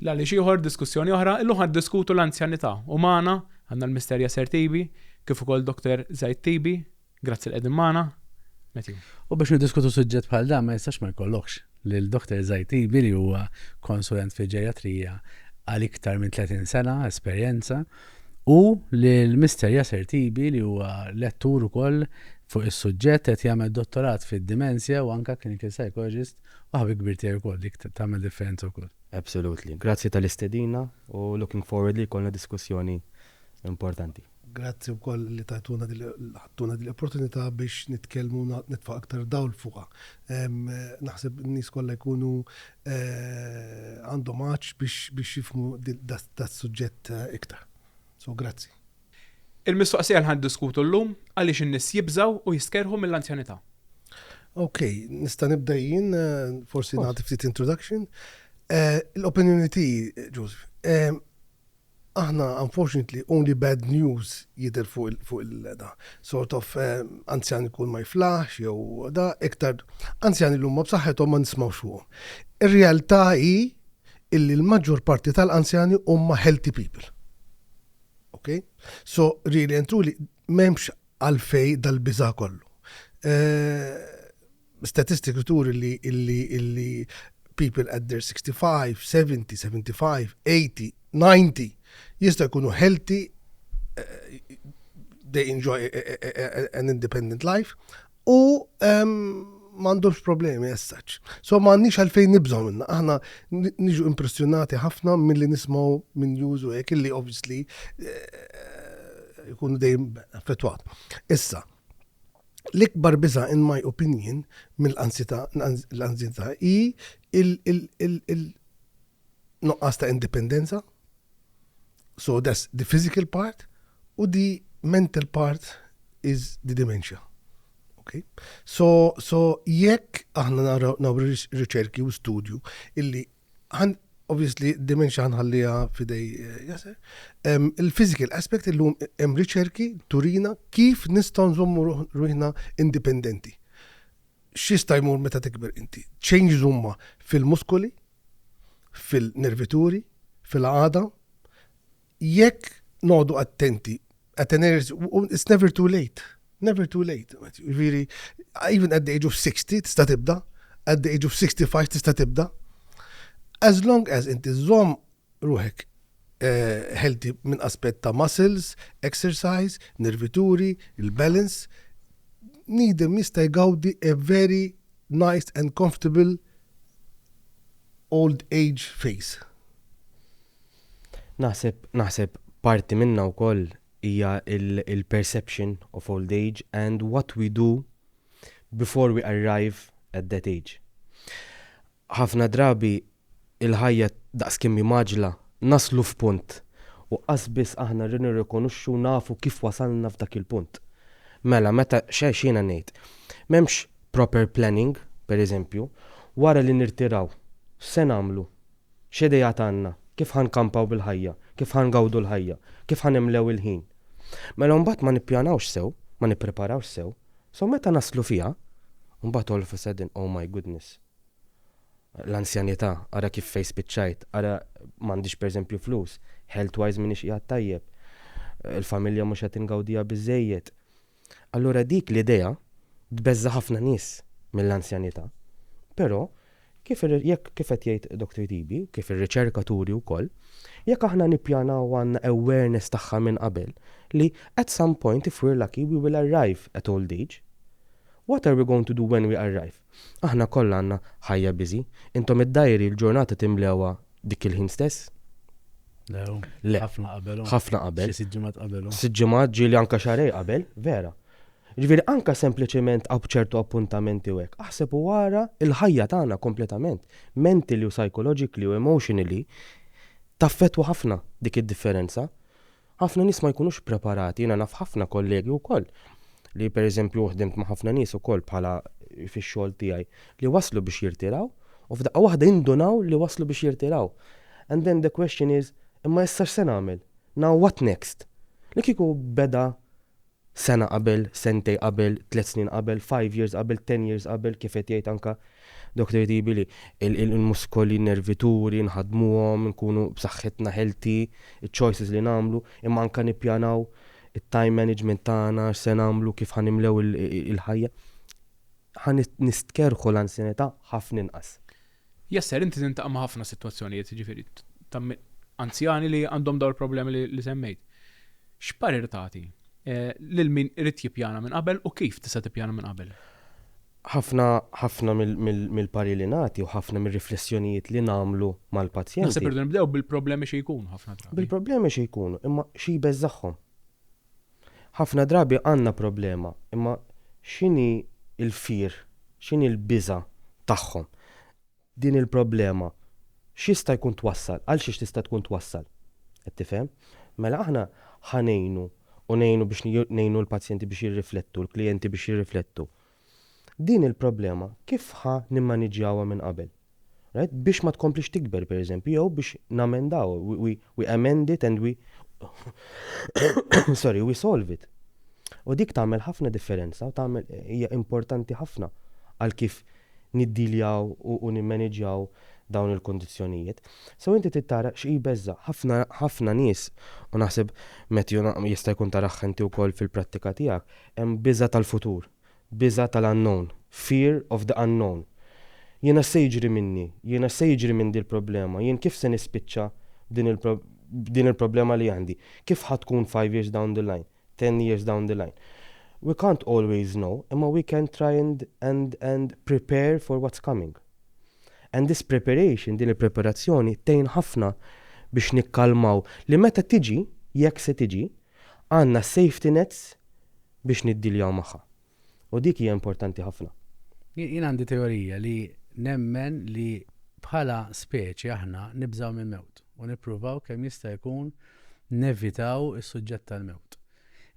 La li xieħor diskussjoni oħra, illu ħad diskutu l-anzjanità u maħna għanna l-misterja Ser Tibi, kif ukoll Dr. Zajt Tibi, Grazzi li qegħdin magħna. Matthew. U biex niddiskutu suġġett bħal dan ma jistax ma jkollokx lil Dr. Zajtibi li huwa konsulent fil-ġerjatrija għal iktar minn 30 sena esperjenza u lil Mister Yasser Tibi li huwa lettur ukoll fuq is-suġġett qed jagħmel dottorat fid-dimensja u anke clinical psychologist u ħabib kbir tiegħi wkoll dik tagħmel differenza wkoll. Absolutely. Grazzi tal-istedina u looking forward li jkollna diskussjoni importanti. Grazzi wkoll li tajtuna din ħadtuna din l-opportunità biex nitkellmu u nitfa' aktar dawl fuqha. Naħseb in-nies kollha jkunu għandhom għatx biex jifhmu das-suġġett iktar. So grazzi. Il-mistoqsija li ħa niddiskutu llum, għaliex in-nies jibżgħu u jistkerrħu mill-anzjanità? Okej, nista' nibda jien, forsi nagħti ftit introduction. L-opinjoni tiegħi, Joseph, Aħna unfortunately only bad news jidher fuq il fuq il da. Sort of anzjan ikun ma jiflaħx jew da, iktar anzjani li huma b'saħħithom ma nismgħux fuqhom. Ir-realtà hi illi l-maġġor parti tal-anzjani huma healthy people. Ok? So really and truly m'hemmx għalfejn dal-biża' kollu. Statistika turi li people at their 65, 70, 75, 80, 90 jista' jkunu healthy, they enjoy an independent life u m'għandhomx problemi as such. So m'għandniex għalfejn nibżgħu minna. Aħna niġu impressjonati ħafna milli nismgħu minn news u hekk illi obviously jkunu dejjem affettwat. Issa, L-ikbar biża' in my opinion mill-anzjità l-anzjità hi il nuqqas ta' indipendenza, so that's the physical part u the mental part is the dementia. Okay? So, so jekk aħna naraw naraw riċerki u studju illi Obviously, dementia ħanħalliha fidej eh, jase. Il-physical aspect illum hemm riċerki turina kif nistgħu nżommu ruħna indipendenti. X'jista' jmur meta tikber inti? Changes huma fil-muskoli, fil-nervituri, fil-għada, Jekk noqogħdu attenti, għateners, it's never too late. Never too late. Viri, even at the age of 60 tista' tibda, at the age of 65 tista' tibda. As long as inti żomm ruħek eh, healthy minn aspett ta' muscles, exercise, nervituri, il-balance, nidem jista' jgawdi a very nice and comfortable old age phase. Naħseb, naħseb parti minnha wkoll hija l-perception of old age and what we do before we arrive at that age. Ħafna drabi l-ħajja daqs kemm hi mgħaġġla, naslu f'punt u qasbiss aħna nirrikonoxxu u nafu kif wasalna f'dak il-punt. Mela meta, x'jiena ngħid, m'hemmx proper planning, pereżempju, wara li nirtiraw x'se nagħmlu? X'ideat għandna? Kif ħa nkampaw bil-ħajja? Kif ħa ngawdu l-ħajja? Kif ħa nimlew il-ħin? Mela mbagħad ma nippjanawx sew, ma nippreparawx sew, so meta naslu fiha, mbagħad all of a sudden, oh my goodness, l-anzjanità, ara kif fejn spiċċajt, ara m'għandix pereżempju flus, health wise m'iniex qiegħed tajjeb, il-familja mhux qed ingawdiha biżżejjed. Allura dik l-idea tbeżża' ħafna nies mill-anzjanità. Però, kif ir, jekk, kif qed jgħid Doctor Tibi, u kif ir-riċerka turi wkoll, jekk aħna nippjanaw u għandna awareness tagħha minn qabel li at some point if we're lucky we will arrive at old age, what are we going to do when we arrive? Aħna kollha għandna ħajja busy. Intom id-dajri l-ġurnata timlewha dik il-ħin stess? Le, Le. ħafna qabel. Ħafna qabel. Xi sitt ġimgħat qabel. Sitt ġimgħat ġieli anke xarej qabel, vera. Ġifieri anke sempliċement għaw b'ċertu appuntamenti u hekk. Aħseb u ara l-ħajja tagħna kompletament, mentally u psychologically u emotionally taffettwa ħafna dik id-differenza. Ħafna nies ma jkunux preparati, jiena naf ħafna kollegi wkoll li pereżempju ħdimt ma' ħafna nies ukoll bħala fix-xogħol tiegħi li waslu biex jirtiraw u f'daqqa waħda jindunaw li waslu biex jirtiraw. And then the question is, imma issa x'se nagħmel? Now what next? Li kieku beda sena qabel, sentej qabel, tliet snin qabel, five years qabel, ten years qabel, kif qed jgħid anka Doctor Tibi li l-muskoli, n-nervi turi, nħaddmuhom, nkunu b'saħħitna healthy, iċ-choices li nagħmlu, imma anka nippjanaw it-time management tagħna, x'se nagħmlu, kif ħa nimlew il-ħajja, ħa nistkerrħu l-anzjanità ħafna inqas. Yes sir, inti tiltaqa' ma' ħafna sitwazzjonijiet, jiġifieri ta' anzjani li għandhom dawn il-problemi li semmejt. X'parir tagħti lil min irid jippjana minn qabel u kif tista' tippjana minn qabel? Ħafna, ħafna mill-parir li nagħti u ħafna mir-riflessjonijiet li nagħmlu mal-pazjenti. Naħseb irridu nibdew bil-problemi xi jkunu ħafna drabi. Bil-problemi xi jkunu, imma xi jbeżżagħhom? Ħafna drabi għandna problema, imma x'inhi l-fear, x'inhi l-biża' tagħhom? Din il-problema x'jista' jkun twassal, għal xiex tista' tkun twassal? Qed tifhem? Mela aħna ħa ngħinu u ngħinu biex ngħinu l-pazjenti biex jirriflettu, l-klijenti biex jirriflettu. Din il-problema kif ħa nimmaniġġjawha minn qabel? Right? Biex ma tkomplix tikber pereżempju jew biex namendawha, we, we, we amend it and we sorry, we solve it. U dik tagħmel ħafna differenza u tagħmel hija importanti ħafna għal kif niddiljaw u, u nimmaniġġjaw dawn il-kondizzjonijiet. So inti tittara xi beża ħafna ħafna nies u naħseb Matthew jista' jkun taraħ inti wkoll fil-prattika tiegħek Hemm biża' tal-futur, biża' tal-unknown, fear of the unknown. Jiena x'se jiġri minni? Jiena x'se jiġri minn dil-problema? Jien kif se nispiċċa b'din il-problema li għandi? Kif ħa tkun five years down the line? Ten years down the line? We can't always know, imma we can try and and and prepare for what's coming. And this preparation, din il-preparazzjoni, tgħin ħafna biex nikkalmaw li meta tiġi, jekk se tiġi, Għandna s-safety nets biex niddiljaw magħha. U dik hija importanti ħafna. Jien għandi teorija li nemmen li bħala speċi aħna nibżgħu mill-mewt u nippruvaw kemm jista' jkun nevitaw is-suġġett tal-mewt.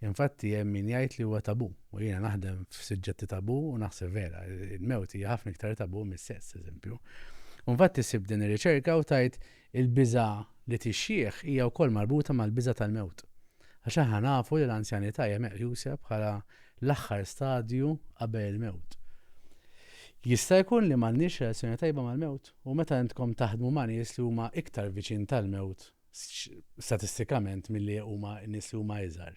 Infatti hemm min jgħid li huwa tabù u jiena naħdem f'suġġetti tabù u naħseb vera, il-mewt hija ħafna iktar tabù mis-sess, eżempju. U infatti sibt din ir-riċerka u tgħid Il-biża' li tixjieħ hija wkoll marbuta mal-biża' tal-mewt, għax aħna nafu li l-anzjanità hija meqjusa bħala l-aħħar stadju qabel il-mewt. Jista' jkun li m'għandniex relazzjoni tajba mal-mewt? U meta intkom taħdmu ma' nies li huma iktar viċin tal-mewt statistikament milli huma n-nies li huma iżgħar,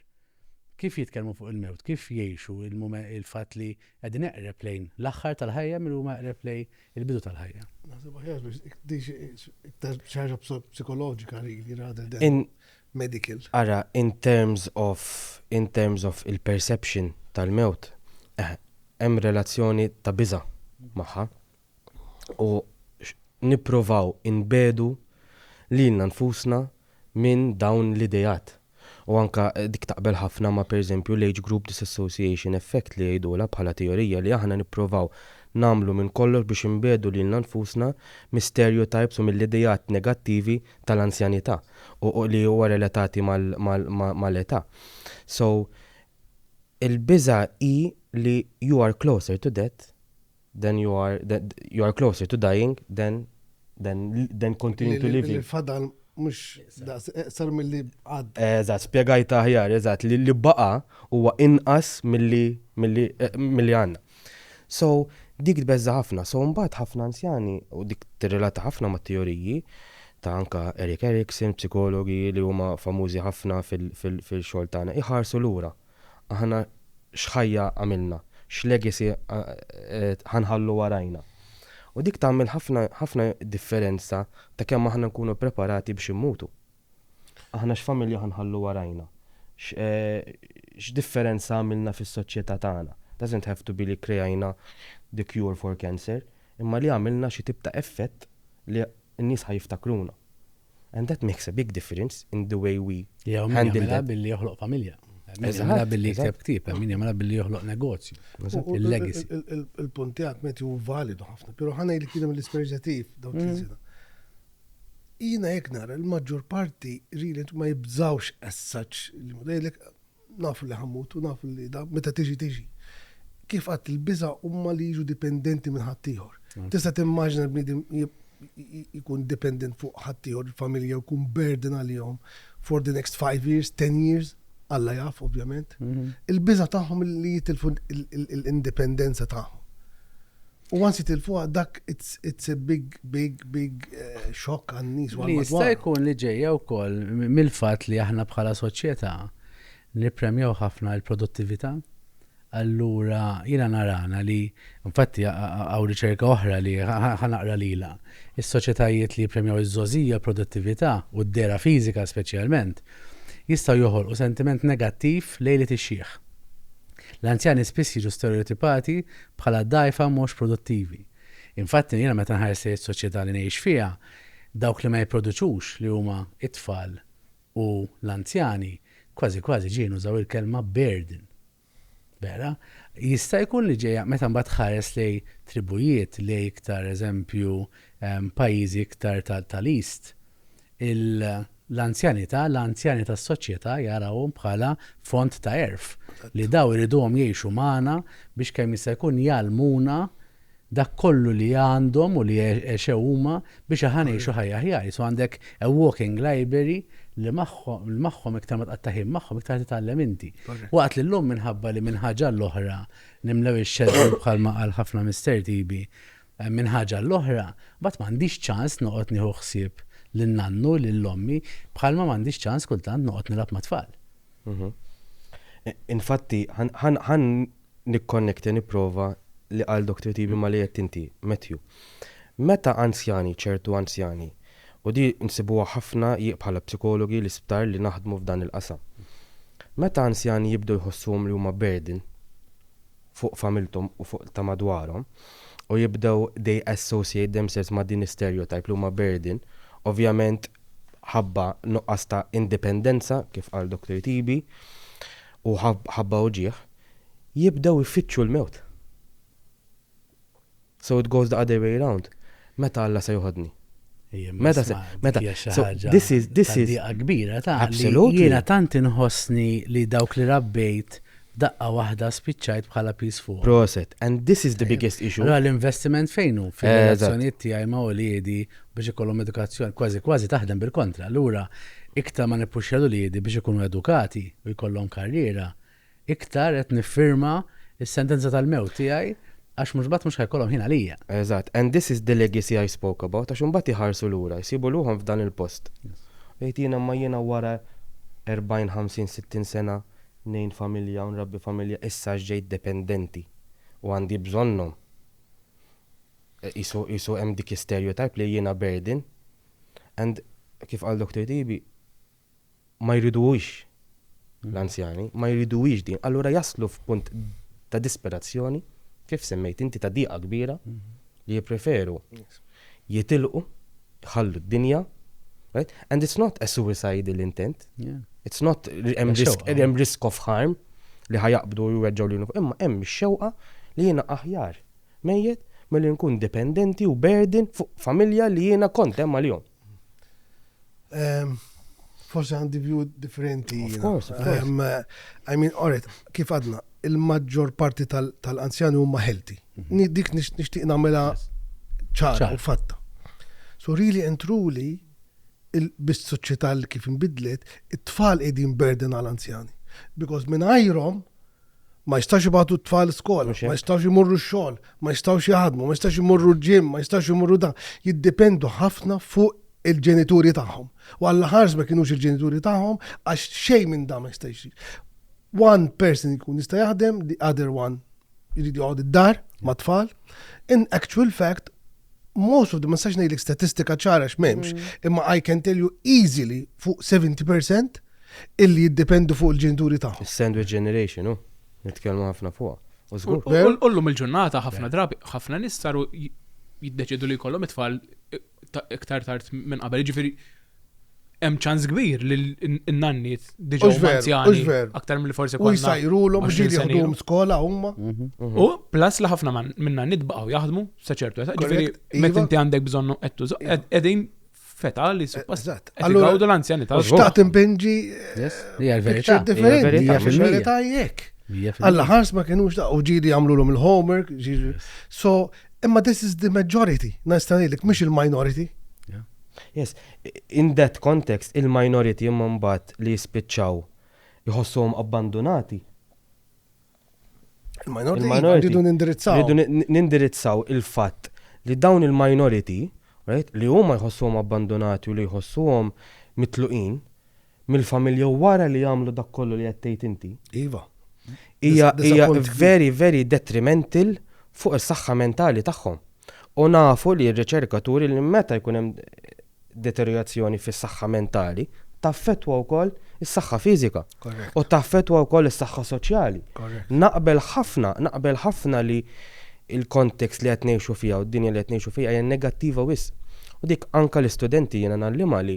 kif jitkellmu fuq il-mewt, kif jgħixu il-fatt li qegħdin eqreb lejn l-aħħar tal-ħajja milli huma eqreb lejn il-bidu tal-ħajja. Naħseb aħjar biex iktar ċaġa psikoloġika really rather than medical. Ara, in terms of in terms of il-perception tal-mewt, eh, hemm relazzjoni ta' biża magħha. U nipprovaw inbedu lilna nfusna minn dawn l-ideat. U anke dik taqbel ħafna ma' pereżempju l-age group disassociation effect li jgħidulha bħala teorija li aħna nipprovaw nagħmlu minn kollox biex inbiegħdu lilna nfusna mis-stereotypes u mill-ideat negattivi tal-anzjanità u li huwa relatati mal-età. So, il-biża' hi li you are closer to death then you are, then, you are closer to dying than, than, than continuing to living. Il-fadal mux sar mill-li għad. Eżat, spiegajta ħjar, eżat, li li baqa huwa inqas mill-li mill-li għanna. So, dik tbeżza ħafna, so mbagħad ħafna anzjani u dik tirrelata ħafna ma' teoriji ta' anka Eric Erickson, psikologi li huma famużi ħafna fil-xogħol tagħna, iħarsu lura. Aħna x'ħajja għamilna, x'legacy ħa nħallu warajna. U dik tagħmel ħafna ħafna differenza ta' kemm aħna nkunu ppreparati biex immutu. Aħna x'familja ħa nħallu warajna, x'differenza għamilna fis-soċjetà tagħna, doesn't have to be li kkrejajna the cure for cancer, imma li għamilna xi tip ta' effett li n-nies ħa jiftakruna. and that makes a big difference in the way we handle that. billi joħloq familja. Eżatt. Billi jikteb ktib, min jagħmilha billi joħloq negozju. Il-legacy. Il-punt tiegħek meti hu validu ħafna, però ħana li kien l-isperġa tiegħi dawk il-sena. Jiena jekk nara l-maġġor parti really ma jibżawx as such li mudejlek Nafu li ħammut u nafu li da meta tiġi tiġi. Kif għadt il-biża' huma li jiġu dipendenti minn ħaddieħor. Tista' timmaġina bniedem jkun dependent fuq ħaddieħor il-familja jkun burden għalihom for the next five years, ten years, Alla jaf ovvjament. Il-biża' tagħhom li jitilfu l-indipendenza tagħhom. U għansi tilfuha dak it's a big, big, big eh, shock għan nies Li jista' jkun li ġejja wkoll mill-fatt li aħna bħala soċjetà nippremjaw ħafna l-produttività. Allura jiena narana li infatti għaw riċerka oħra li ħanaqra lila. Is-soċjetajiet li jippremjaw iż-żożija produttività u d-dera fiżika speċjalment jistgħu joħolqu sentiment negattiv lejn li tixjieħ. L-anzjani spiss jiġu stereotipati bħala dgħajfa mhux produttivi. Infatti jiena meta nħares lejn is-soċjetà li ngħix fiha, dawk li ma jipproduċux li huma t-tfal u l-anzjani, kważi kważi ġieli nużaw il-kelma burden. Vera? Jista' jkun li ġejja meta mbagħad tħares lejn tribujiet, lejn iktar eżempju pajjiżi iktar tal-East, l-anzjanità, l-anzjani tas-soċjetà jarawhom bħala font ta' għerf, li dawn iriduhom jgħixu magħna biex kemm jista' jkun jgħallmuna dak kollu li għandhom u li għexew huma biex aħna ngħixu ħajja aħjar. Jisu għandek a walking library li magħhom iktar ma tqatta' ħin magħhom iktar titgħallem inti. Waqt li llum minħabba li minn ħaġa għall-oħra nimlew ix-xeddi bħalma qal ħafna Mister Tibi, Minn ħaġa għall-oħra, mbagħad m'għandix ċans noqgħod nieħu ħsieb lil nannu, lil ommi, bħalma m'għandix ċans kultant noqgħod nilgħab mat-tfal. Infatti, ħa nikkonnekta, nipprova, li qal Dottor Tibi ma' li għedt inti, Matthew. Meta anzjani, ċertu anzjani, u din insibuha ħafna jekk bħala psikologi, l-isptar li naħdmu f'dan il-qasam. Meta anzjani jibdew jħossuhom li huma burden, fuq familthom u fuq ta' madwarhom u jibdew they associate themselves ma' din is-stereotype li huma burden ovvjament ħabba nuqqas ta' indipendenza kif qal Doctor Tibi u ħabba uġigħ jibdew ifittxu l-mewt. So it goes the other way round, meta Alla se joħodni? Meta se, meta, so this is, this is. Diqa kbira ta' Absolutely. Jiena tant inħossni li dawk li rabbejt daqqa waħda spiċċajt bħala peace fuq. Proset, and this is the biggest issue. Ra l-investiment fejnu fil-relazzjoniet tiegħi ma' uliedi biex ikollhom edukazzjoni kważi kważi taħdem bil-kontra. Allura iktar ma nippuxxjalu liedi biex ikunu edukati u jkollhom karriera, Iktar qed niffirma s-sentenza tal-mewt tiegħi għax mhux mbagħad mhux ħa jkollhom ħin għalija. Eżatt, and this is the legacy I spoke about, għax imbagħad iħarsu lura, jsibu ruħhom f'dan il-post. U jgħid jiena imma jiena wara 40, 50, 60 sena ngħin familja u nrabbi familja issa għax ġejt dependenti u għandi bżonnhom. Qisu qisu hemm dik is-stereotype li jiena burden and kif qal Doctor Tibi, ma jriduhiex l-anzjani, ma jriduhiex din, allura jaslu f'punt ta' disperazzjoni, kif semmejt inti ta' diqa kbira, li jippreferu jitilqu, jħallu d-dinja, right? And it's not a suicidal intent, it's not hemm risk of harm li ħajaqbdu u jweġġaw li imma hemm ix-xewqa li jiena aħjar mejjet milli nkun dipendenti u burden fuq familja li jiena kont hemm għalihom. Forse għandi view differenti. Of course, of course. Um, I mean, alright, kif għadna, il-maġġor parti tal-anzjani huma healthy. Mhm. Dik nixtieq nagħmilha ċara u fatta. So really and truly, bis-soċjetà li kif inbidlet, it-tfal qegħdin burden għal anzjani. Because minn ajrom, Ma jistax ibatu t-tfal skola, ma jistax imorru xogħol, ma jistax jaħdmu, ma jistax imorru ġim, ma jistax imorru dan. Jiddipendu ħafna fuq il-ġenituri tagħhom. U għalla ħars ma kienux il-ġenituri tagħhom għax xejn minn dan ma jistax. One person jkun jista' jaħdem, the other one jrid joqgħod id-dar ma' tfal. In actual fact, most of them, ma sax ngħidlek statistika ċara x'memx, mm. imma I can tell you easily fuq 70% illi jiddependu fuq il-ġenituri tagħhom. Sandwich generation, u nitkellmu ħafna fuq. Ullum il-ġurnata ħafna drabi, ħafna nies saru jiddeċidu li jkollhom it-tfal iktar tard minn qabel. Ġifieri hemm ċans kbir li n-nanniet diġa huma anzjani aktar mill forsi kważi. U jsajrulhom ġieli jieħduhom skola huma. Mhm, mhm. U plus li ħafna minn nanniet baqgħu jaħdmu sa ċertu età. Ġifieri iva. meta inti għandek bżonn qed tuża iva. qegħdin feta li suppost. Allura għawdu l-anzjani ta' xtaqt impinġi. Hija l-verità. Differenti, hija l-verità jekk. Alla ħars ma kienux da' u ġili għamlu l-om il-homework, so, imma this is the majority, najstanilek, mish il-minority. Yes, in that context, il-minority imma mbagħad li jispiċċaw jħossuhom abbandunati. Il-minority rridu nindirizzaw. Rridu nindirizzaw il-fatt li dawn il-minority, right, li huma jħossuhom abbandunati u li jħossuhom mitluqin, mill-familja u wara li jagħmlu dak kollu li qed tgħid inti. Iva. Hija hija very very detrimental fuq is-saħħa mentali tagħhom. U nafu li r-riċerka turi li meta jkun hemm deteriorazzjoni fis-saħħa mentali, taffettwa wkoll is-saħħa fiżika u taffettwa wkoll is-saħħa soċjali. Naqbel ħafna, naqbel ħafna li il-kontekst li qed ngħixu fiha u d-dinja li qed ngħixu fiha hija negattiva wis. U dik anka l-istudenti jiena nallima li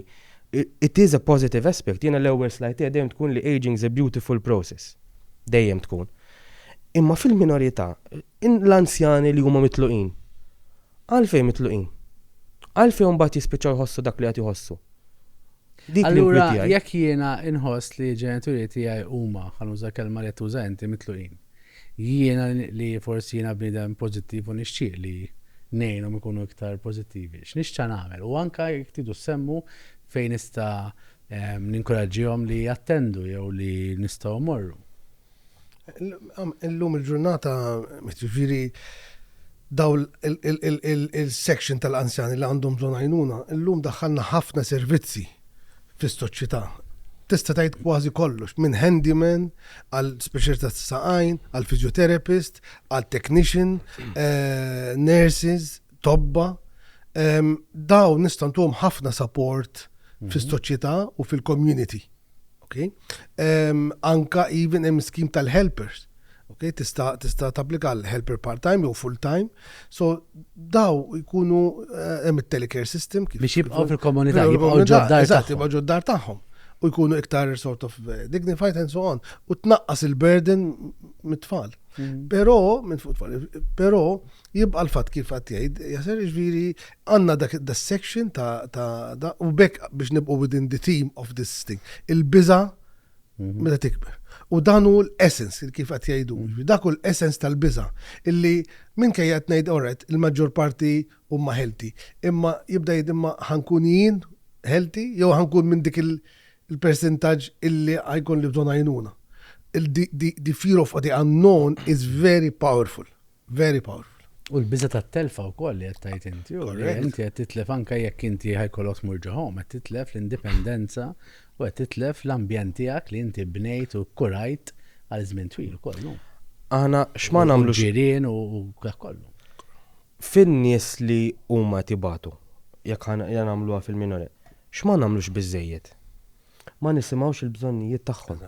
It is a positive aspect, jiena l-ewwel slide tiegħi dejjem tkun li ageing is a beautiful process. Dejjem tkun. Imma fil-minorità, l-anzjani li huma mitluqin, għalfejn mitluqin? Għalfejn mbagħad jispiċċaw jħossu dak li qed jħossu? Allura jekk jiena inħoss li ġenituri tiegħi huma, ħanuża kelma li qed tuża inti, mitluqin. Jiena li forsi jiena bniedem pożittiv u nixtieq li ngħinhom ikunu iktar pożittivi, x'nixta' nagħmel? U anke jekk tridu ssemmu fejn nista' ninkuraġġihom li jattendu jew li nistgħu mmorru. Illum il-ġurnata, jiġifieri dawn il-section tal-anzjani li għandhom bżonn għajnuna, illum daħħalna ħafna servizzi fis-soċjetà. Tista' tgħid kważi kollox, minn handyman għal speċjalità ta' għajn, għal physiotherapist, għal technician, eh, nurses, tobba. Daw nista' ntuhom ħafna support mhm. fis-soċjetà u fil-community. Okay? Anka even hemm skim tal-helpers Okay, tista' tista' tapplika għal helper part-time jew full-time. So daw jkunu eh, hemm it-telecare system kif. Biex jibqgħu fil-komunità, jibqgħu ġoddar. Eżatt, jibqgħu ġoddar tagħhom. U jkunu iktar sort of eh, dignified and so on. U tnaqqas il-burden mit-tfal. Mm. Però, minn fuq tfal, però jibqa' l-fatt kif qed jgħid, jaser ġviri għandna dak da section ta' u bekk biex nibqgħu within the team of this thing. Il-biża' Meta tikber. U dan hu l-essence, kif qed jgħidu, mhm. dak hu l-essence tal-biża, illi minn kejja qed ngħid oret il-maġġor parti huma healthy, imma jibda jgħid imma ħankun jien healthy jew ħankun minn dik il-percentaġġ illi għajkun li bżonn għajnuna. The fear of the unknown is very powerful. Very powerful. U l-biża tat-telfa wkoll li qed tgħid inti, u li inti qed titlef anke jekk inti ħajkollok tmur ġo home, qed titlef l-indipendenza u qed titlef l-ambjent tiegħek li inti bnejt u kurajt għal żmien twil ukoll, no? Aħna x'ma nagħmlu ġirien u dak kollu. Fin-nies li huma tibatu, jekk ħan nagħmluha fil-minore, x'ma nagħmlux biżejjed? ma nisimgħux il-bżonnijiet tagħhom.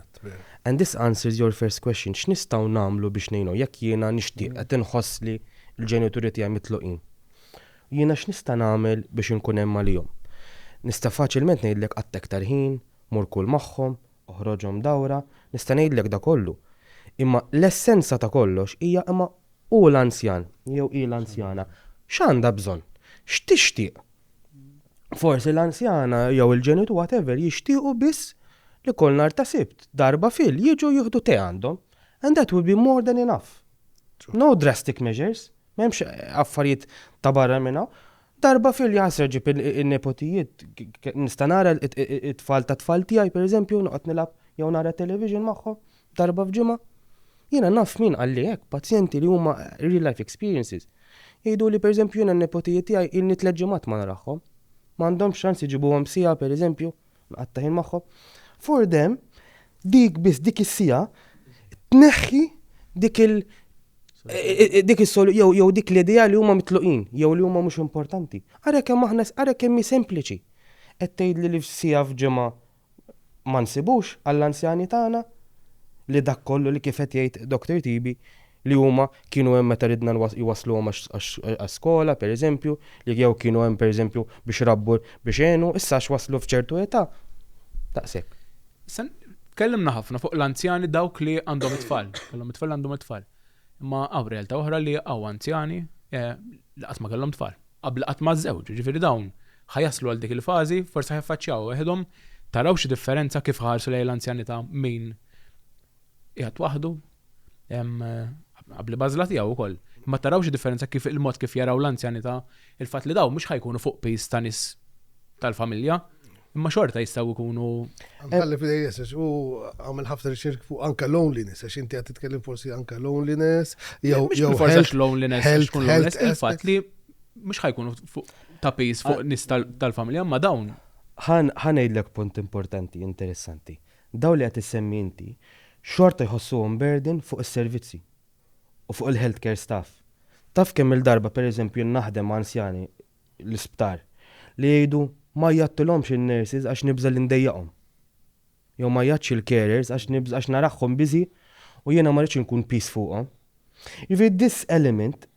And this answers your first question, x'nistgħu nagħmlu biex ngħinu? Jekk jiena nixtieq, qed inħoss li l-ġenituri tiegħi mitluqin, jiena x'nista' nagħmel biex inkun hemm għalihom? Nista' faċilment ngħidlek qatta' iktar ħin, mur kul magħhom, oħroġhom dawra, nista' ngħidlek da kollu. Imma l-essenza ta' kollox hija imma hu l-anzjan jew hi l-anzjana x'għandha bżonn? X'tixtieq? Forsi l-anzjana jew il-ġenitu whatever jixtiequ biss li kol nar ta' sibt, darba fil, jiġu jieħdu te għandhom. And that will be more than enough. No drastic measures, m'hemmx affarijiet ta' barra minn hawn. Darba fil jasra ġib in-nepotijiet, nista' nara it-tfal tat-tfal tiegħi pereżempju noqgħod nilgħab jew nara television magħhom. darba f'ġimgħa. Jiena naf min qalli hekk, pazjenti li huma real life experiences. Jgħiduli pereżempju jiena n-nepotijiet tiegħi ilni tliet ġimgħat ma narahhom. Ma għandhomx ċans iġibuhom siegħa pereżempju, nqatta' ħin magħhom. For them, dik biss dik is-siegħa tneħħi dik il- dik is jew dik l-idea li huma mitluqin, jew li huma mhux importanti. Ara kemm aħna ara kemm hi sempliċi. Qed tgħidli li f'siegħa f'ġimgħa ma nsibux għall-anzjani tagħna li dak kollu li kif qed jgħid Doctor Tibi li huma kienu hemm meta ridna jwassluhom għax-skola pereżempju, li jew kienu hemm pereżempju biex rabbu biex għenu, issa għax waslu f'ċertu età, daqshekk. Issa tkellimna ħafna fuq l-anzjani dawk li għandhom it-tfal, kellhom it-tfal għandhom it-tfal. Imma hawn realtà oħra li hawn anzjani li qatt ma kellhom tfal. qabel qatt ma żżewġu, jiġifieri dawn ħa jaslu għal dik il-fażi, forsi ħa jiffaċċjawha weħidhom, taraw xi differenza kif ħarsu lejn l-anzjanità min qiegħed waħdu, qabli b'għażla tiegħu wkoll, imma taraw xi differenza kif il-mod kif jaraw l-anzjanità, il-fatt li dawn mhux ħa jkunu fuq piż ta' nies tal-familja, Imma xorta jistaw ikunu. Għalli fil-AS, u għamil ħafna riċerk fuq anka loneliness, għax inti għat titkellem forsi anka loneliness, jew jew forsi loneliness, health, tkun loneliness, il-fat li mux ħajkunu fuq tapis fuq ah. nis tal-familja, ma dawn. ħan ejdlek punt importanti, interessanti. Daw li għat semmi inti, xorta jħossu burden fuq il-servizzi u fuq il-healthcare staff. Taf kemm il-darba, per eżempju, naħdem anzjani l-isptar li jgħidu ma jgħaddtilhomx in-nurses għax nibża' li ndejjaqhom. Jew ma jgħaddx il-carers għax nibża' għax narahhom busy u jiena ma rridx inkun piż fuqhom. Jiġifieri this element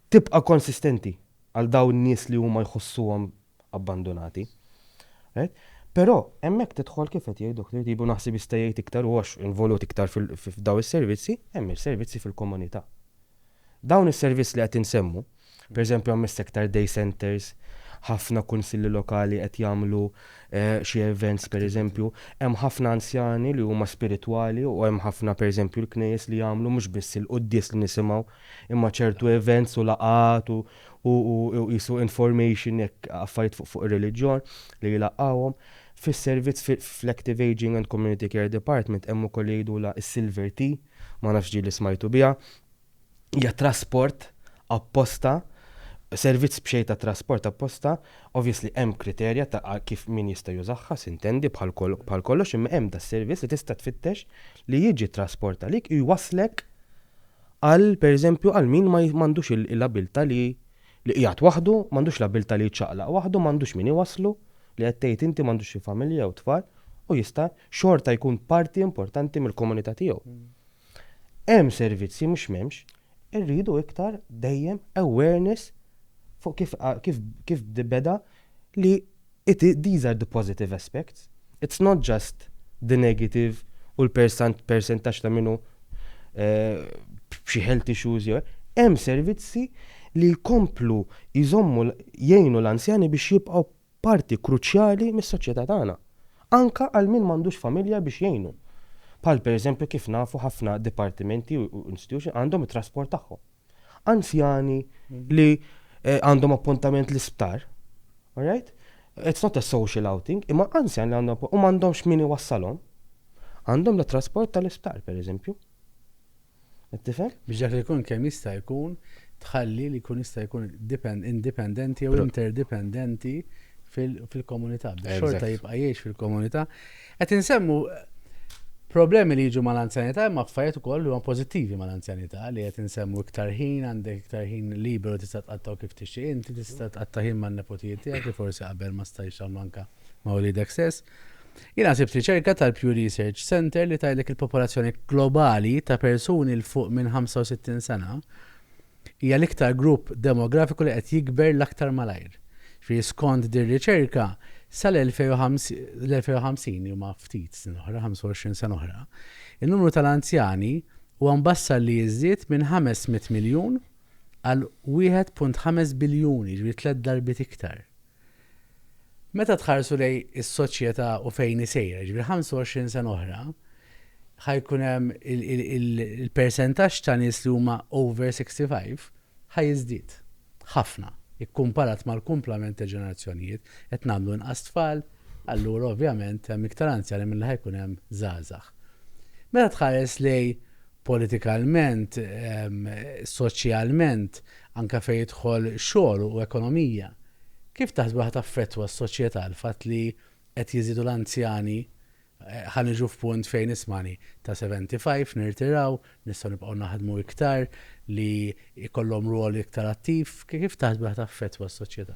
tibqa' konsistenti għal dawn in-nies li huma jħossuhom abbandunati. Right? Però hemmhekk tidħol kif qed jgħid Dr. Tibu naħseb jista' jgħid iktar u għax involut iktar f'dawn is-servizzi, hemm is-servizzi fil-komunità. Dawn is-servizz li qed insemmu, pereżempju ammess iktar day centres, ħafna kunsilli lokali qed jagħmlu xi events pereżempju, hemm ħafna anzjani li huma spiritwali u hemm ħafna pereżempju l-knejjes li jagħmlu mhux biss il-quddies li nisimgħu imma ċertu events u laqgħat u u qisu information hekk affarijiet fuq ir-reliġjon li jlaqqgħuhom. Fis-servizz fl-Active Ageing and Community Care Department hemm ukoll li jgħidulha s-Silver Tea. ma nafx ġieli smajtu biha, hija trasport apposta, servizz b'xejn ta' trasport apposta, obviously hemm kriterja ta' kif min jista' jużaha, sintendi, bħal bħal kollox, imma hemm das-servizz li tista' tfittex li jiġi t-trasport għalik u jwasslek għal pereżempju għal min ma m'għandux il-abilta' li Li qiegħed waħdu, m'għandux l-abbiltà li jiċċaqlaq waħdu, m'għandux min iwasslu, li qed tgħid inti m'għandux xi familja jew tfal, u jista' xorta jkun parti importanti mill-komunità tiegħu. Hemm servizzi, mhux m'hemmx, irridu iktar dejjem awareness fuq kif kif kif beda li It these are the positive aspects, it's not just the negative u l-persant persentaġġ ta' min hu b'xi health issues jew hemm servizzi li jkomplu jżommu jgħinu l-anzjani biex jibqgħu parti kruċjali mis-soċjetà tagħna. Anke għal min m'għandux familja biex jgħinu. Bħal pereżempju kif nafu ħafna dipartimenti u institutions għandhom it-trasport tagħhom. anzjani li eh, għandhom appuntament l-isptar, alright? It's not a social outing, imma anzjani li għandhom u m'għandhomx min iwassalhom. Għandhom la trasport tal-isptar, per eżempju. Tifhem? Biex dak li jkun kemm jista' jkun tħalli li jkun jista' jkun indipendenti jew interdipendenti fil-komunità. Xorta jibqa' jgħix fil-komunità. Qed insemmu problemi li jiġu mal-anzjanità imma affarijiet ukoll li huma pożittivi mal-anzjanità li qed insemmu iktar ħin, għandek iktar ħin liberu tista' tqattgħu kif tixtieq inti, tista' tqatta' ħin man-nepotijiet tiegħek li forsi qabel ma stajtx tagħmlu anke ma' uliedek stess. Jiena sibt riċerka tal-Pew Research Centre li tgħidlek il-popolazzjoni globali ta' persuni 'l fuq minn 65 sena hija l-iktar grupp demografiku li qed jikber l-aktar malajr. Ġifieri skond din riċerka sal-2050, li huma ftit snin oħra, 25 sena oħra, in-numru tal-anzjani huwa mbassar li jiżdied minn 500 miljun għal 1.5 biljuni, jiġifieri tliet darbiet iktar. Meta tħarsu lejn is-soċjetà u fejn hi sejra, jiġifieri 25 sena oħra, ħa jkun hemm il-persentaġġ ta' nies li huma over 65 ħa jiżdied ħafna kkumparat mal-kumplament ta' ġenerazzjonijiet, qed nagħmlu inqas tfal, allura ovvjament hemm iktar anzjani milli ħa jkun hemm żgħażagħ. Meta tħares lejn politikalment, soċjalment, Anke fejn jidħol xogħol u ekonomija, kif taħsbu li ħa taffettwa s-soċjetà l-fatt li qed jiżiedu l-anzjani ħa niġu f'punt fejn ismagħni ta' 75 nirtiraw, nistgħu nibqgħu naħdmu iktar li jkollhom rwol iktar attiv, kif taħsbu li ħa taffettwa s-soċjetà?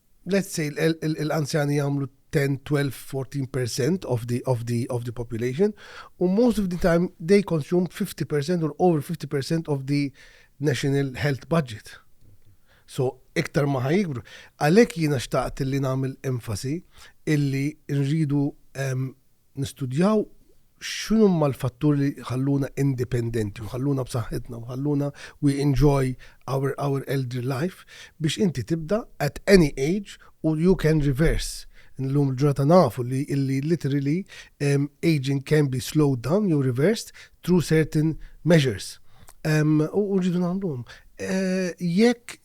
let's say l-anzjani jagħmlu 10, 12, 14% of the, of the, of the population, u most of the time they consume 50% or over 50% of the national health budget. So, iktar ma ħajikbru. Għalek jina xtaqt li namil enfasi illi nridu um, nistudjaw x'inhuma l-fatturi li jħalluna indipendenti u jħalluna b'saħħitna u jħalluna we enjoy our our elder life biex inti tibda at any age u you can reverse. Illum il-ġurnata nafu li illi literally um, aging can be slowed down jew reversed through certain measures. Um, u rridu nagħmluhom. Uh, jekk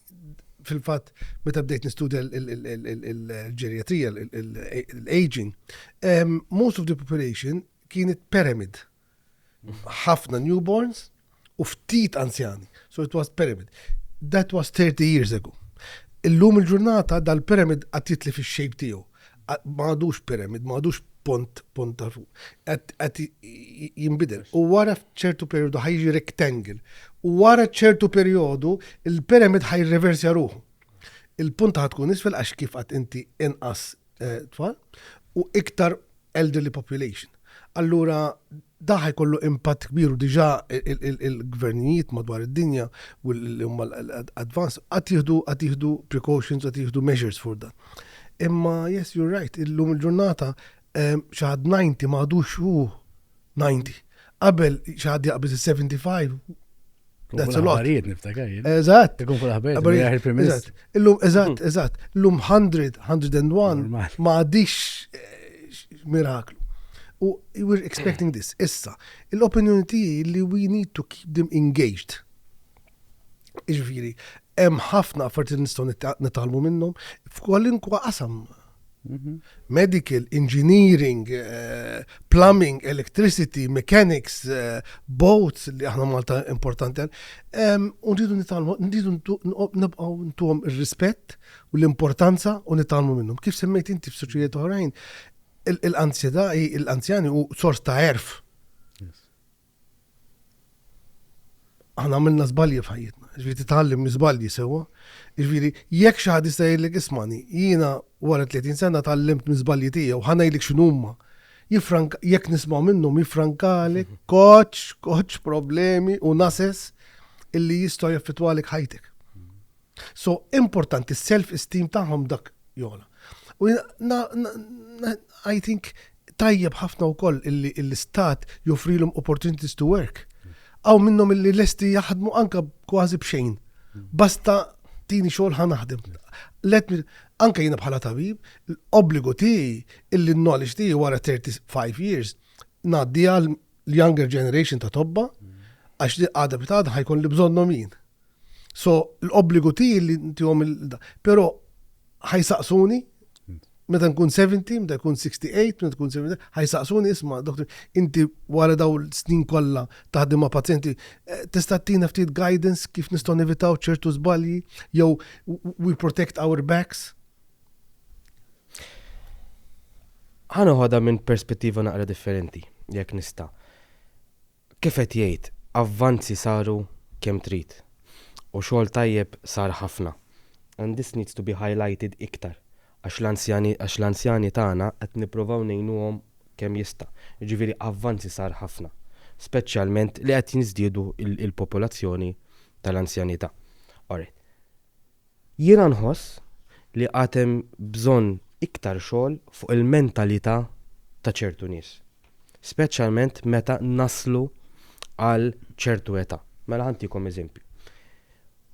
fil-fatt meta bdejt nistudja l-ġerjatrija, l-aging, most of the population kienet pyramid. Ħafna newborns u ftit anzjani. So it was pyramid. That was 30 years ago. Illum il-ġurnata dal-pyramid għat jitli fix-shape tiegħu. ma għadux pyramid, ma għadux pont, pont ta' fuq. Għed jimbidel. U wara ċertu periodu ħajġi rectangle. U wara ċertu periodu il-pyramid ħaj reversja ruħu. Il-punta ħatkun isfel għax kif għat inti inqas eh, tfal u iktar elderly population. Allura da ħajkollu impatt kbir u diġà il-gvernijiet madwar id-dinja u l-umma advanced għad jieħdu għad jieħdu precautions għad jieħdu measures for dan. Imma yes you're right, illum il-ġurnata xi ħadd 90 ma għadux hu 90. Qabel xi ħadd jaqbeż is-75. That's a lot. Affarijiet niftakar jien. Eżatt. Ikun fuq l-aħbarijiet Qabel- jgħid il-Prim Ministru. Eżatt. Illum, eżatt, eżatt. Illum 100, 101, Normal. ma għadix eh, miraklu. U you were expecting this. Issa, l-opinjoni tiegħi li we need to keep them engaged. Iġviri, hemm ħafna affarijiet li nistgħu nitgħallmu minnhom f'kwalinkwa qasam. Mhm. Medical, engineering, eh, plumbing, electricity, mechanics, eh, boats li aħna Malta importanti. U nridu nitgħallmu, nridu nibqgħu ntuhom ir-rispett u l-importanza u nitgħallmu minnhom. Kif semmejt inti f'suċċijiet oħrajn, l-anzjani u sors ta' erf Aħna għamilna żbalji f'ħajjitna, ġifieri titgħallem miżbalji sewwa. Ġifieri jekk xi ħadd jista' jgħidlek ismani, jiena wara 30 sena tgħallimt miżbalji tiegħu, ħa ngħidlek x'inhuma. Jifrank jekk nisma' minnhom jifrankalek mhm. koċ, koċ problemi u nases illi jistgħu jaffettwalek ħajtek. So importanti self esteem tagħhom dak jogħla. U I think tajjeb ħafna wkoll illi l-istat joffrilhom opportunities to work. Aw minnhom illi lesti jaħdmu anka kważi b'xejn. Basta tini xogħol ħa naħdem. Let me anka jiena bħala tabib, l-obbligu tiegħi illi n-knowledge tiegħi wara 35 years ngħaddi għal l-younger generation ta' tobba, għax li għada bitada ħajkun li bżonnom jien. So, l-obbligu ti li ntijom il-da. Pero, ħajsaqsuni, meta nkun 70, meta nkun 68, meta nkun 70, ħajsaqsuni isma, doktor, inti wara daw l-snin kollha taħdem ma' pazjenti, eh, tista' tina ftit guidance kif nistgħu nevitaw ċertu żbalji jew we protect our backs. Ħa noħodha minn perspettiva naqra differenti, jekk nista'. Kif qed jgħid, avvanzi saru kemm trid u xogħol tajjeb sar ħafna and this needs to be highlighted iktar għax l-anzjani għax l-anzjani tagħna qed nippruvaw ngħinuhom kemm jista', jiġifieri avvanzi sar ħafna, speċjalment li qed jiżdiedu l-popolazzjoni tal-anzjanità. Alright. Jiena nħoss li għad hemm bżonn iktar xogħol fuq il-mentalità ta' ċertu nies, speċjalment meta naslu għal ċertu età. Mela ħa ntikom eżempju.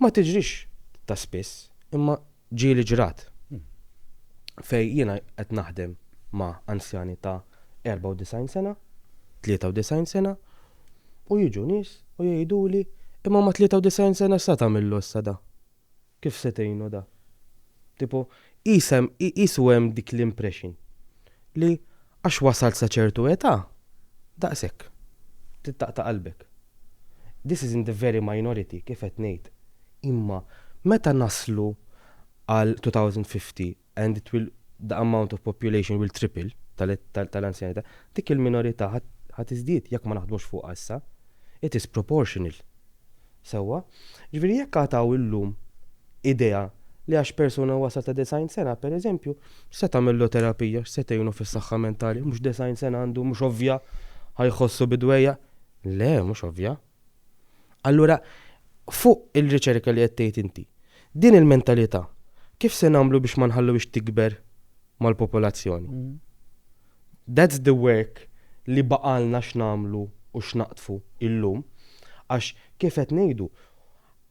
Ma tiġrix ta' spiss, imma ġieli ġrat fejn jiena qed naħdem ma' anzjani ta' 94 sena, 93 sena, U jiġu nies u jgħiduli, Imma ma' 93 sena x'se tagħmillu issa da? Kif se tgħinu da? Tipo, qisha hemm, qisu hemm dik l-impression li għax wasalt sa ċertu età, daqshekk. Tittaqta' qalbek. This is in the very minority, kif qed ngħid. Imma meta naslu għal 2050, and it will the amount of population will triple tal-anzjanità, dik il-minorità ħa tiżdied jekk ma naħdmux fuqha issa. It is proportional. Sewwa? Jiġifieri jekk għad hawn illum idea li għax persuna wasal ta' design sena, pereżempju, x'se tagħmillu terapija, x'se tgħinu fis-saħħa mentali, mhux design sena għandu, mhux ovvja, ħa jħossu bidwejjaq. Le, mhux ovvja. Allura, fuq il-riċerka li qed tgħid inti, din il-mentalità kif se nagħmlu biex ma nħalluhiex tikber mal-popolazzjoni? That's the work li baqgħalna x'nagħmlu u x'naqdfu illum għax kif qed ngħidu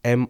hemm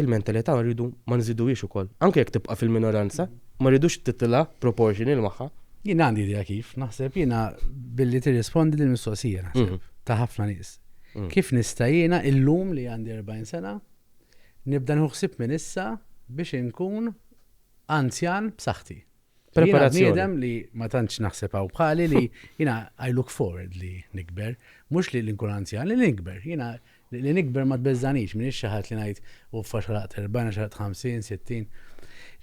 il-mentalità rridu ma nżiduhiex ukoll. Anke jekk tibqa' fil-minoranza, ma rridux titilgħa proportional magħha. Jien għandi idea kif, naħseb jiena billi tirrispondi dil-mistoqsija naħseb ta' ħafna nies. Kif nista' jiena illum li għandi 40 sena nibda nieħu ħsieb minn issa biex inkun anzjan b'saħħti? Preparazzjoni. Bniedem li ma tantx naħseb hawn bħali li jiena I look forward li nikber, mhux li nkun anzjan, li nikber. Jiena li nikber ma tbeżżanix, minn xi ħadd li ngħid u fax xalaqt 40, xalaqt 50, 60.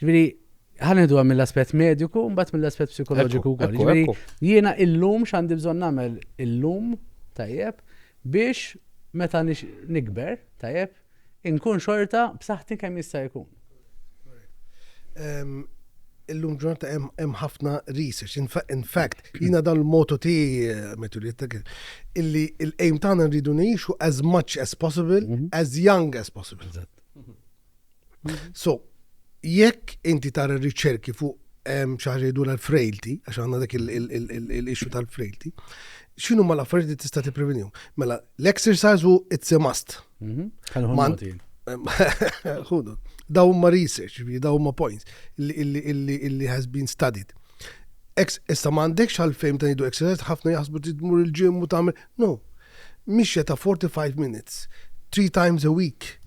Ġifieri, ħanedu għam mill-aspett mediku, mbagħad mill-aspett psikoloġiku wkoll. Ġifieri, jiena illum x'għandi bżonn nagħmel illum tajjeb biex meta nikber, tajjeb, Inkun xorta b'saħħti kemm jista' jkun. Illum ġurnata hemm ħafna research. In fact, jiena dan l-motu ti eh, metulietta illi l-aim tagħna rridu ngħixu as much as possible, mhm. as young as possible. So, jekk inti tara riċerki fuq ċaħġejdu l-frailty, għax għanna dak il-issue tal-frailty, xinu ma l-affarijiet li tista' tipprevenju? Mela, l-exercise u it's a must. Mhm. Ħudu. Daw ma research, daw ma points illi has been studied. Issa ma għandekx għal-fejm ta' nidu exercise, ħafna jaħsbu tidmur il-ġim u tagħmel. No, mixja ta' 45 minutes, three times a week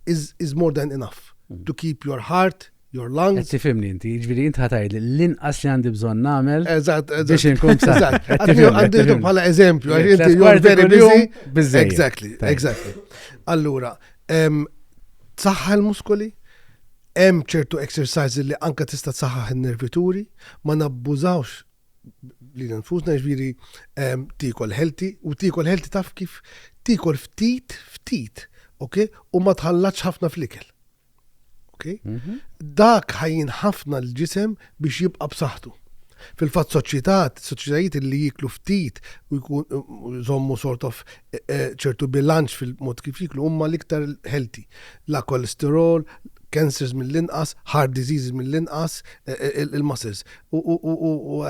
is, is more than enough mm. to keep your heart, your lungs. Qed tifhimni inti, jiġifieri int ħa tgħidli l-inqas li għandi bżonn nagħmel. Eżatt, eżatt. Biex inkun eżatt. Għandi bħala eżempju, għax inti you're very busy. Biżżejjed. Exactly, exactly. Allura, saħħa l-muskoli, hemm ċertu exercises li anka tista' saħħaħ in-nervituri, ma nabbużawx li nfusna ġviri tikol healthy u tikol healthy taf kif tikol ftit ftit, ok? U ma tħallatx ħafna fl-ikel. Okay? Mm -hmm. Dak ħajjin ħafna l-ġisem biex jibqa' b'saħħtu. Fil-fatt soċjetat, soċjetajiet li jiklu ftit u jkun żommu sort of e, e, ċertu bilanċ fil-mod kif jiklu huma l-iktar healthy. La kolesterol, cancers mill-inqas, heart diseases mill-inqas, e, il-muscles. U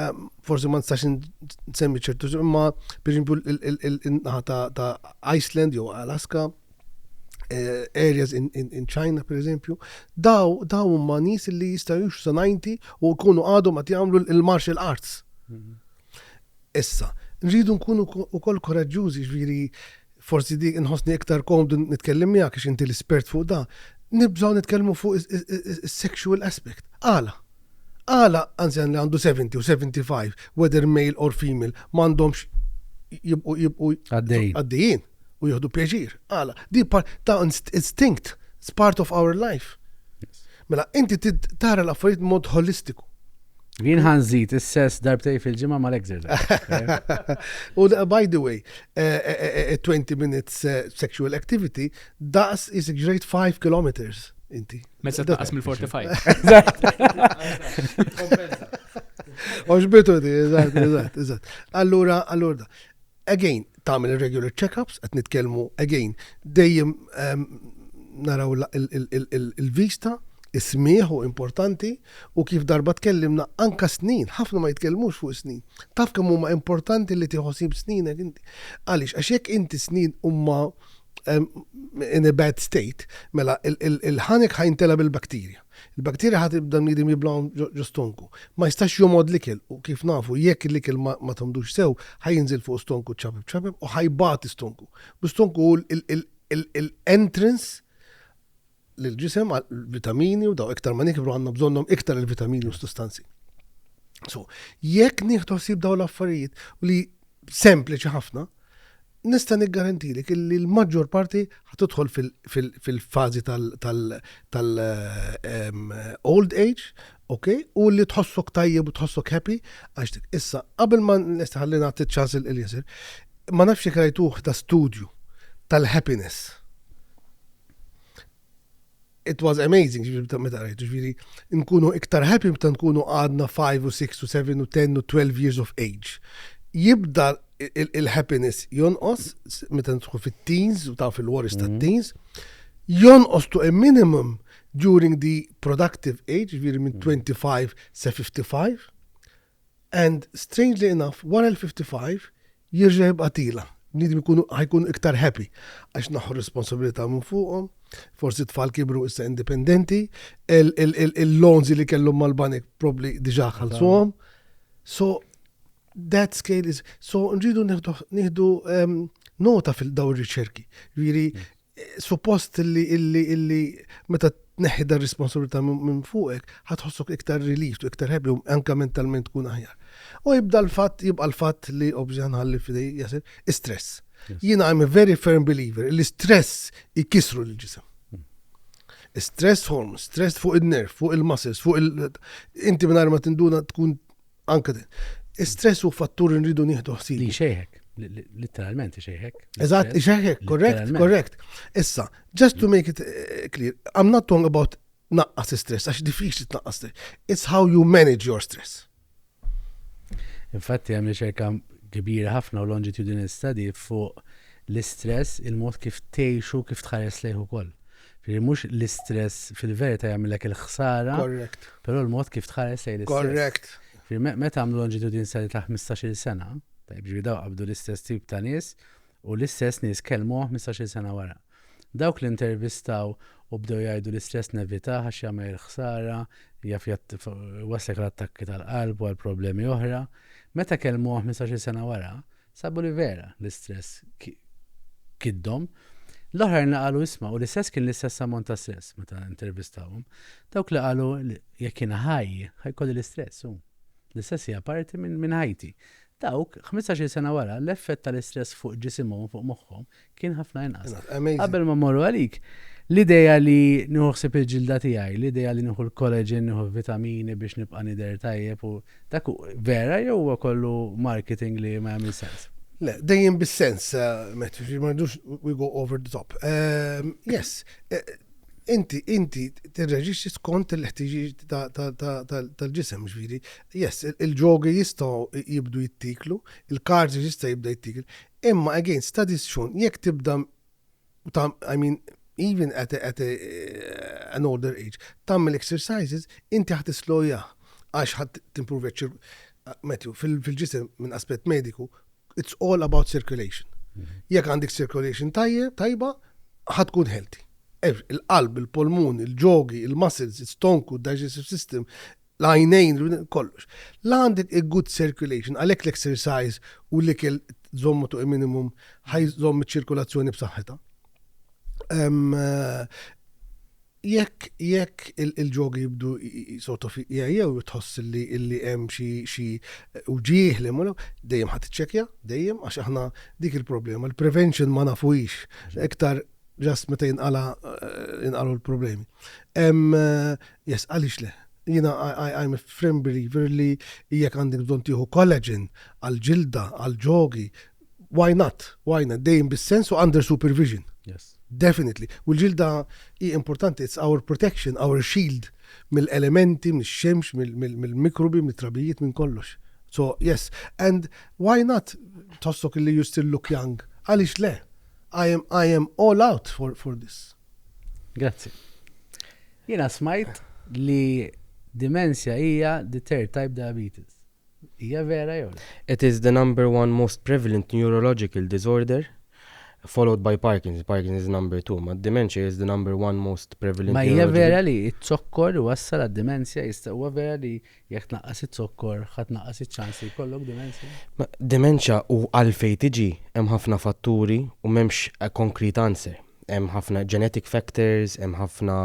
forsi ma nistax nsemmi ċertu imma pereżempju il-naħa ta' Iceland jew Alaska eh, areas in, in, in China, per eżempju, daw daw huma nies li jistgħu jux sanajnti u jkunu għadhom qed jagħmlu l-martial arts. Mhm. Issa, rridu nkunu ukoll koraġġużi ġviri forsi dik nħossni iktar komdu nitkellem miegħek għax inti l-espert fuq da. Nibżgħu nitkellmu fuq is-sexual aspect. Għala, għala anzjan li għandu 70 u 75, whether male or female, mandomx jibqu jibqu għaddejjin. u jieħdu pjaċir. Għala, di ta' instinct, it's part of our life. Mela, inti tara l-affarijiet mod holistiku. Jien ħanżit is-sess darbtej fil-ġimgħa mal-exercise. U by the way, 20 eh, eh, eh, minutes sexual activity, daqs is great 5 kilometers inti. Mesa taqas mill-45. Oġbitu di, eżatt, eżatt, eżatt. Allura, allura da. Again, tagħmel ir-regular check-ups, qed nitkellmu again, dejjem naraw il-vista, is-smigħ hu importanti u kif darba tkellimna anka snin, ħafna ma jitkellmux fuq is-snin. Taf kemm huma importanti li tieħu ħsieb sninek inti. Għaliex għax jekk inti snin huma in a bad state, mela il-ħanek ħajntela bil-bakterja. Il-bakterja ħa tibda l-bniedem jiblgħhom ġo stonku. Ma jistax jomgħod l-ikel u, kif nafu, jekk l-ikel ma tgħommdux sew, ħa jinżel fuq stonku ċapep ċapep u ħa jbati stonku. U stonku hu l-entrance lill-ġisem għall-vitamini u daw iktar ma nikbru għandna bżonnhom iktar il-vitamini u s-sustanzi. So, jekk nieħdu ħsieb daw l-affarijiet u li sempliċi ħafna, Nista' niggarantilek illi l-maġġor parti ħa tidħol fil-fażi tal-old age, ok, u li tħossok tajjeb u tħossok happy għax dik. Issa, qabel ma nista' ħalli nagħti ċ-ċans lil Eliezer, ma nafx jekk rajtuh da studju tal-happiness. it was amazing, ġifiri meta rajtu, ġifiri nkunu iktar happy meta nkunu għadna 5 u 6 u 7 u 10 u 12 years of age. Jibda il-happiness jonqos meta tkun fit-teens u taf il-worries ta' mhm. teens, jonqos to a minimum during the productive age, ġifiri minn 25 mhm. sa 55, And strangely enough wara l-55 jirġa' jibqa' tila. Bniedem ikunu ħajkunu iktar happy għax tnaħħu r-responsabilità minn fuqhom, forsi t-tfal kibru issa indipendenti, il-loans li kellhom mal-banek probabbli diġà ħallsuhom. So that scale is so nridu nieħdu nota fil-dawn ir-riċerki. Jiġifieri Suppost li illi illi meta tneħħi dar responsabilità minn fuqek, ħatħossok iktar relieved u iktar happy u anke mentalment tkun aħjar. U jibda l-fatt, jibqa' l-fatt li obviously ħanħalli f'idej Yasser, is-stress. Jiena I am a very firm believer li stress ikissru l-ġisem. Stress hormones, stress fuq in-nerve, fuq il-muscles, fuq il- Inti mingħajr ma tinduna tkun Anke din. Is-stress hu fattur li nridu nieħdu ħsieb. Li xejħek, literalment xejħek. Eżatt, xejħek, korrekt, korrekt. Issa, just to make it eh, clear, I'm not talking about naqqas stress, għax diffiċli tnaqqas stress. It's how you manage your stress. Infatti, għamli ċerka kbira ħafna u longitudinal study fuq l-istress, il-mod kif teħxu, kif tħares lejhu koll. Ġifieri mhux l-istress fil-verità jagħmilek il-ħsara. Correct. Però l-mod kif tħares lejn l-istress. Correct. Ġifieri meta għamlu longitudin sali ta' 15-il sena, tajb ġifieri daw qabdu l-istess tip ta' nies u l-istess nies kellmu 15-il sena wara. Dawk li intervistaw u bdew jgħidu l-istress nevitah għax jagħmel il-ħsara, jaf waslek l-attakki tal-qalb u għal problemi oħra. Meta kellmu 15-il sena wara, Sabu li vera, l-istress kiddhom. L-oħrajn li qalu isma' u l-istress kien l-istess ammont ta' stress meta intervistawhom. Dawk li qalu jekk kien ħaj, ħajkolli l-istress u l-istress hija parti minn ħajti. Dawk, 15-il sena wara, l-effett tal-istress fuq ġisimhom u fuq moħħhom Kien ħafna inqas. Qabel ma morru għalik, l-ideja li nħuħsib il-ġilda tiegħi, l-ideja li nieħu l-kollagen, nieħu vitamini biex nibqa' nidher tajjeb u dak vera jew huwa kollu marketing li ma jagħmel sens. Le, dejjem bis-sens, eh, met, ma rridux we go over the top. Ehm, yes, eh, inti inti tirreġixxi skont il-ħtiġijiet tal-ġisem ġviri. Yes, il-ġogi jistgħu jibdu jittiklu, il-karti jista' jibda jittiklu, Imma again studies xun jekk tibda tam I mean even at a, at a, an older age tagħmel exercises inti ħa tislowjah għax ħa timpruvja ċ-ċir Matthew fil-ġisem minn aspett mediku it's all about circulation. Jekk għandek circulation tajjeb tajba ħa tkun healthy. Il-qalb, il-polmun, il-ġogi, il-muscles, il-stonku, digestive system, l-għajnejn, kollox. La għandek a good circulation, għalhekk l-exercise u l-ikel żommu tuq minimum ħajżomm iċ-ċirkulazzjoni b'saħħitha. Eh, jekk jekk il-ġogi jibdu sort of jew tħoss li illi hemm xi uġieħ li mulu, dejjem ħadd iċċekja, dejjem għax aħna dik il-problema. Il-prevention ma nafux iktar ġast meta jinqala jinqalu l-problemi. Yes, għalix le? jina I'm a firm believer li jek għandek bżon tiħu collagen għal-ġilda, għal-ġogi, why not? Why not? Dejjem bis-sens u under supervision. Yes. Definitely. U l-ġilda hi importanti, it's our protection, our shield mill-elementi, mill-xemx, mill-mikrobi, mill-trabijiet, minn kollox. So, yes. And why not tossok li you still look young? Għalix le? I am, I am all out for, for this. Grazzi. Jena smajt li dimensja hija the third type diabetes. Hija vera jew? It is the number one most prevalent neurological disorder followed by Parkinson's. Parkinson's is number two, ma dementia is the number one most prevalent. Ma hija vera li t-zokkor wassal għad-demenzja jista' huwa vera li Jekk tnaqqas iz-zokkor, ħa tnaqqas iċ-ċans li jkollok dimensja? Dementia u għalfejn tiġi, hemm ħafna fatturi u m'hemmx a concrete answer. Hemm ħafna genetic factors, hemm ħafna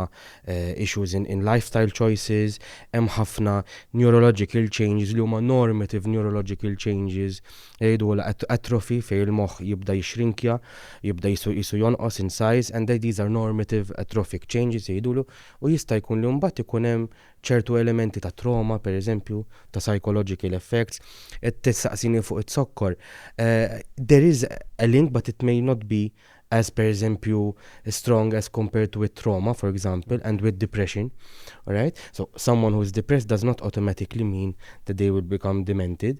issues in in lifestyle choices, hemm ħafna neurological changes li huma normative neurological changes li jgħidulha at atrophy fejn il-moħħ jibda jixxrinkja, jibda qisu qisu jonqos in size and these are normative atrophic changes jgħidulu u jista' jkun li mbagħad ikun hemm ċertu elementi ta' trauma, per eżempju, ta' psychological effects, qed tistaqsini fuq iz-zokkor. There is a link but it may not be as per eżempju strong as compared with trauma for example and with depression. Alright? So someone who is depressed does not automatically mean that they will become demented.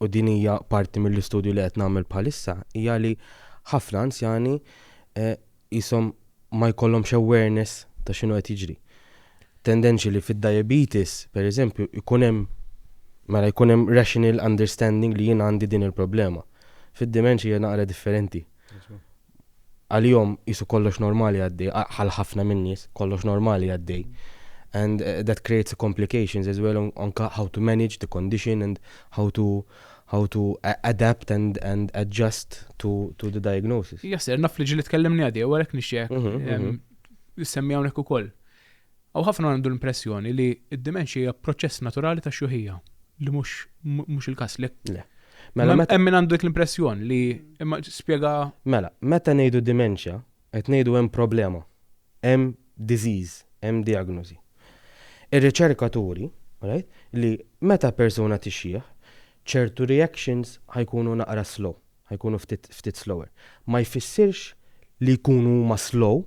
u din hija parti mill-istudju li qed nagħmel bħalissa, hija li ħafna anzjani qishom ma jkollhomx awareness ta' x'inhu qed jiġri. Tendenċi li fid-diabetes, pereżempju, jkun hemm mela jkun hemm rational understanding li jien għandi din il-problema. Fid-dementia hija naqra differenti. Għalihom qisu kollox normali għaddej, għal ħafna min-nies, kollox normali għaddej. And that creates a complications as well on how to manage the condition and how to how to adapt and and adjust to to the diagnosis. Jasser, naf li ġili tkellimni għaddew għalhekk nixtieqek issemmi hawnhekk ukoll. Hawn ħafna għandu l-impressjoni li d-dimenxja hija proċess naturali ta' xjuħija, li mhux mhux il-każ, le? Le. Mela hemm min għandu dik l-impressjon li imma spjega. Mela, meta ngħidu dimenxja, qed ngħidu hemm problema, hemm disease, hemm diagnosi. Ir-riċerka turi, right, li meta persuna tixjieħ, ċertu reactions ħa jkunu naqra slow, ħa jkunu ftit ftit slower. Ma jfissirx li jkunu huma slow,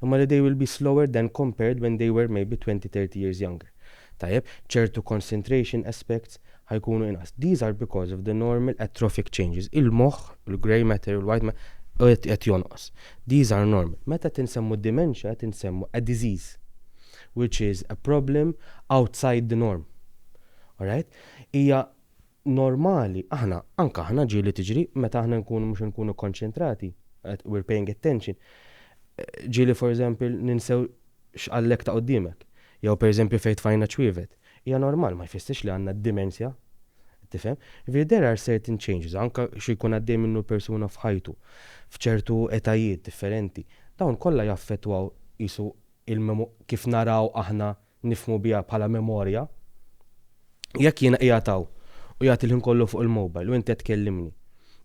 imma li they will be slower than compared when they were maybe twenty, thirty years younger. Tajjeb, ċertu concentration aspects ħa jkunu inqas. These are because of the normal atrophic changes. Il-moħħ, il-grey matter, il-white matter, qed qed jonqos. These are normal. Meta qed insemmu dementia qed insemmu a disease which is a problem outside the norm. All right? Hija normali, aħna, anke aħna ġieli tiġri, meta aħna nkunu mhux nkunu konċentrati, we're paying attention, ġieli for example ninsew x'qallek ta' quddiemek, jew per eżempju fejn tfajna ċwievet. Hija normal, ma jfissirx li għandna d-dimensja. Tifhem? Jiġifieri there are certain changes, anke xi jkun għaddej minnu persuna f'ħajtu, f'ċertu etajiet differenti, dawn kollha jaffettwaw qisu kif naraw aħna nifhmu biha bħala memorja, jekk jiena qiegħed hawn u qiegħed il-ħin kollu fuq il-mobile u inti qed tkellimni,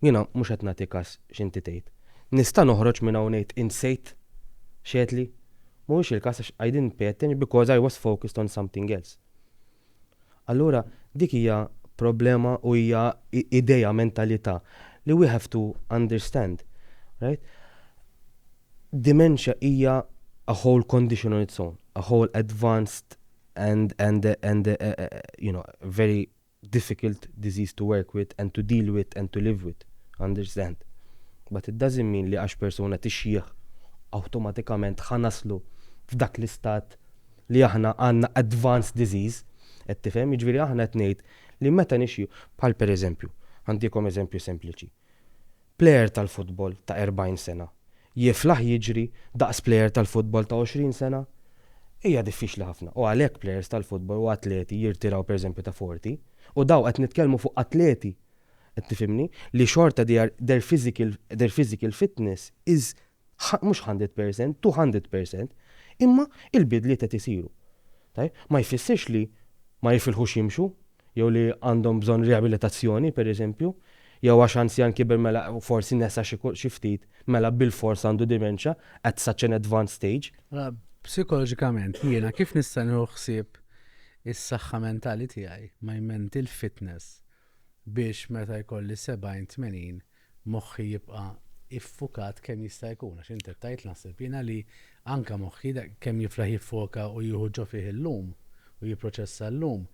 jiena mhux qed nagħti kas x'inti tgħid. Nista' noħroġ minn hawn ngħid insejt x'għedtli? Mhuwiex il-każ għax I didn't pay attention because I was focused on something else. Allura dik hija problema u hija idea, mentalità li we have to understand, right? Dementia hija a whole condition on its own, a whole advanced and and and you know very difficult disease to work with and to deal with and to live with, understand? But it doesn't mean li għax persuna tixjieħ awtomatikament ħa naslu f'dak l-istat li aħna għandna advanced disease, qed tifhem? Jiġifieri aħna qed ngħid li meta nixjieħu, bħal pereżempju, ħantikom eżempju sempliċi, plejer tal-futbol ta' 40 sena jiflaħ jiġri daqs plejer tal-futbol ta' 20 sena? Hija diffiċli ħafna u għalhekk plejers tal-futbol u atleti jirtiraw pereżempju ta' 40 u dawn qed nitkellmu fuq atleti, qed tifhimni, li xorta they are their physical their physical fitness is mhux 100%, 200%, imma il-bidliet qed isiru. Tajjeb, ma jfissirx li ma jifilħux jimxu, jew li għandhom bżonn riabilitazzjoni, pereżempju, jew għax anzjan kiber mela forsi nesa xi xi ftit, mela bilfors għandu dementia at such an advanced stage. Mela psikoloġikament jiena kif nista' nieħu ħsieb is-saħħa mentali tiegħi, my mental fitness, biex meta jkolli 70, 80, moħħi jibqa' iffukat kemm jista' jkun, għax int qed tgħid, naħseb jiena, li anke moħħi, kemm jiflaħ jiffoka u jieħu ġo fih illum u jipproċessa llum,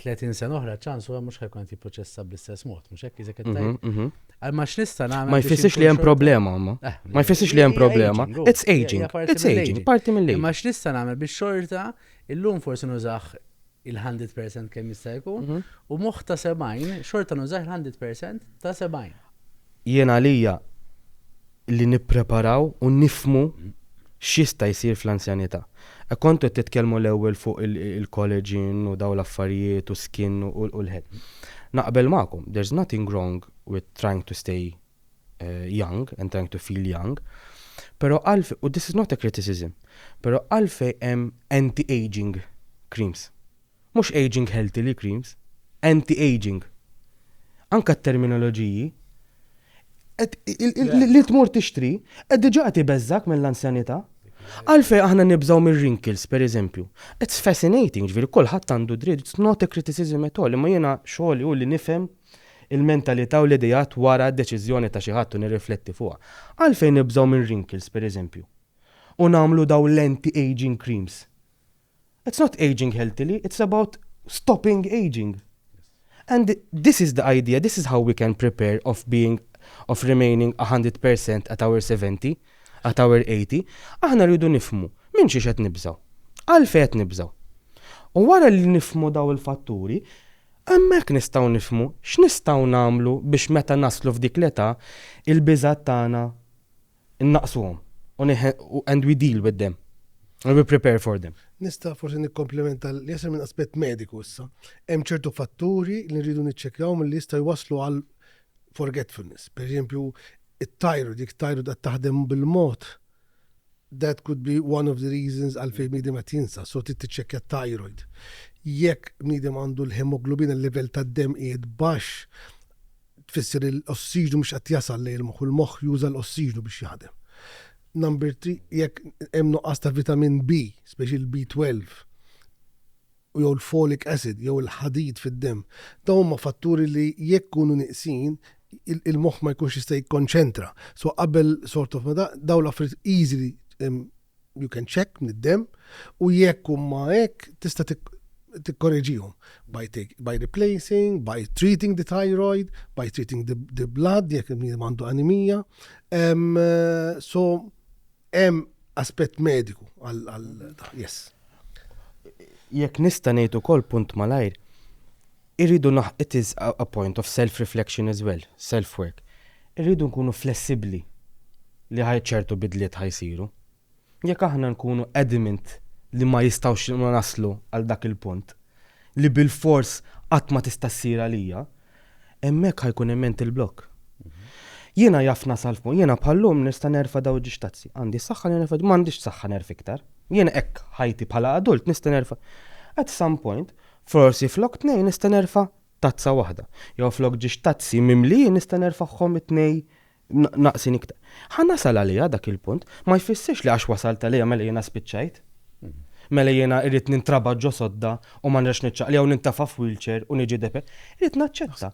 tletin sena oħra ċans huwa mhux ħa jkun qed jipproċessa bl-istess mod, mhux hekk iżek qed mhm, tgħid? Mhm. Għal ma x'nista' nagħmel. Ma jfissirx li hemm problema, ma. Eh, ma jfissirx li hemm problema. It's aging. It's aging, parti mill-aging. Ma x'nista' nagħmel biex xorta illum forsi nużax il-hundred percent kemm jista' jkun, mhm. u moħħ ta' 70 xorta nużax il-hundred percent ta' 70. Jien għalija li nippreparaw u nifmu x'jista' jsir fl-anzjanità. E kontu titkellmu l-ewwel fuq il-collagen u daw l-affarijiet u skin u l-ħed. Naqbel magħkom, there's nothing wrong with trying to stay eh, young and trying to feel young, pero għalf, u this is not a criticism, pero għalfej hemm anti-aging creams. Mux aging healthy li creams, anti-aging. Anka t-terminoloġiji, li tmur tixtri, qed diġa qed ibeżżak mill-anzjanità. Għalfej aħna nibżaw mir wrinkles per eżempju. It's fascinating, ġviri, kullħat għandu dritt, it's not a criticism at all, imma jena xogħol u li nifhem il-mentalità u l-ideat wara d-deċiżjoni ta' xi ħadd u nirrifletti fuqha. Għalfejn nibżgħu minn wrinkles, pereżempju, u nagħmlu dawn l-anti-aging creams? It's not aging healthily, it's about stopping aging. And this is the idea, this is how we can prepare of being, of remaining a hundred per cent at our seventy, at our eighty. Aħna rridu nifhmu minn xiex qed nibżgħu. Għalfejn qed nibżgħu. U wara li nifhmu dawn il-fatturi, Hemmhekk nistgħu nifhmu x'nistgħu nagħmlu biex meta naslu f'dik l-età, il-biżgħat tagħna nnaqqsuhom u u and we deal with them and we prepare for them. Nista' forsi nikkomplementa li jasal minn aspett mediku issa. Hemm ċertu fatturi li nridu niċċekkjaw milli jistgħu jwasslu għal forgetfulness. Pereżempju, it-tajru, dik tajru qed taħdem bil-mod That could be one of the reasons għalfejn bniedem qed jinsa, so trid tiċċekkja t-thyroid. Jekk bniedem għandu l-hemoglobin, il-livell tad-demm qiegħed baxx, tfisser li l-ossiġnu mhux qed jasal lejn il-moħħ u l-moħħ juża l-ossiġnu biex jaħdem. Number three, jekk hemm nuqqas ta' vitamin B, speċi l-B12, u jew l-folic acid jew il-ħadid fid-demm. Dawn huma fatturi li jekk ikunu nieqsin il-moħħ ma jkunx jista' jikkonċentra. So qabel sort of meta dawn l-affarijiet easily you can check mid-demm u jekk huma hekk tista' tikkoreġihom by, by replacing, by treating the thyroid, by treating the, the blood, jekk il-bniedem għandu anemija. Um, so, Hemm aspett mediku għal yes. Jekk nista' ngħid ukoll punt malajr, irridu naħ it is a point of self-reflection as well, self-work. Irridu nkunu flessibbli li ħaj ċertu bidliet ħajsiru. Jekk aħna nkunu adamant li ma jistgħux naslu għal dak il-punt, li bil-fors qatt ma tista' ssir għalija, Hemmhekk ħa jkun hemm mental block. Jiena jaf nasal fuq, jiena bħallum nista' nerfa' daw ġiex tazzi. Għandi s-saħħa li nerfa' m'għandix s-saħħa nerf iktar. Jiena hekk ħajti bħala adult nista' nerfa'. At some point, forsi flok tnejn nista' nerfa' tazza waħda. Jew flok ġiex tazzi mimlijin nista' nerfagħhom it-tnejn naqsin iktar. Ħa nasal għalija dak il-punt, ma jfissirx li għax wasalt għalija mela jiena spiċċajt. Mhm. Mela jiena irrid nintraba ġo sodda u ma nrex niċċaqli jew nintafa f'wheelchair u niġi depe. Irrid naċċetta.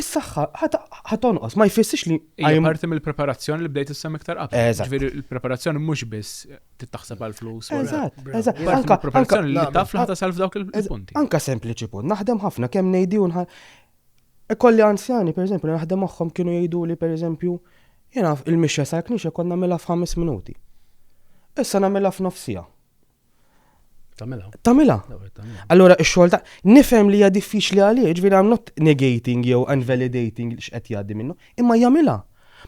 Is-saħħa ħatonqos ma jfissirx li hija parti mill-preparazzjoni li bdejt issem iktar qabel. Ġifieri il-preparazzjoni mhux biss tittaħseb għal flus. Eżatt, eżatt. Anka preparazzjoni li taf li ħatasal f'dawk il-punti. Anka sempliċi punt, naħdem ħafna kemm ngħidi u Ikolli anzjani, pereżempju, li naħdem magħhom kienu jgħiduli, pereżempju, jiena l-mixja sal-knisja kont nagħmilha f'ħames minuti. Issa nagħmilha f'nofs siegħa. Tamila. Tamila. Allora, xogħol ta' nifhem li hija diffiċli għalih, ġifieri I'm not negating jew unvalidating li x'qed jgħaddi minnu, imma jagħmilha.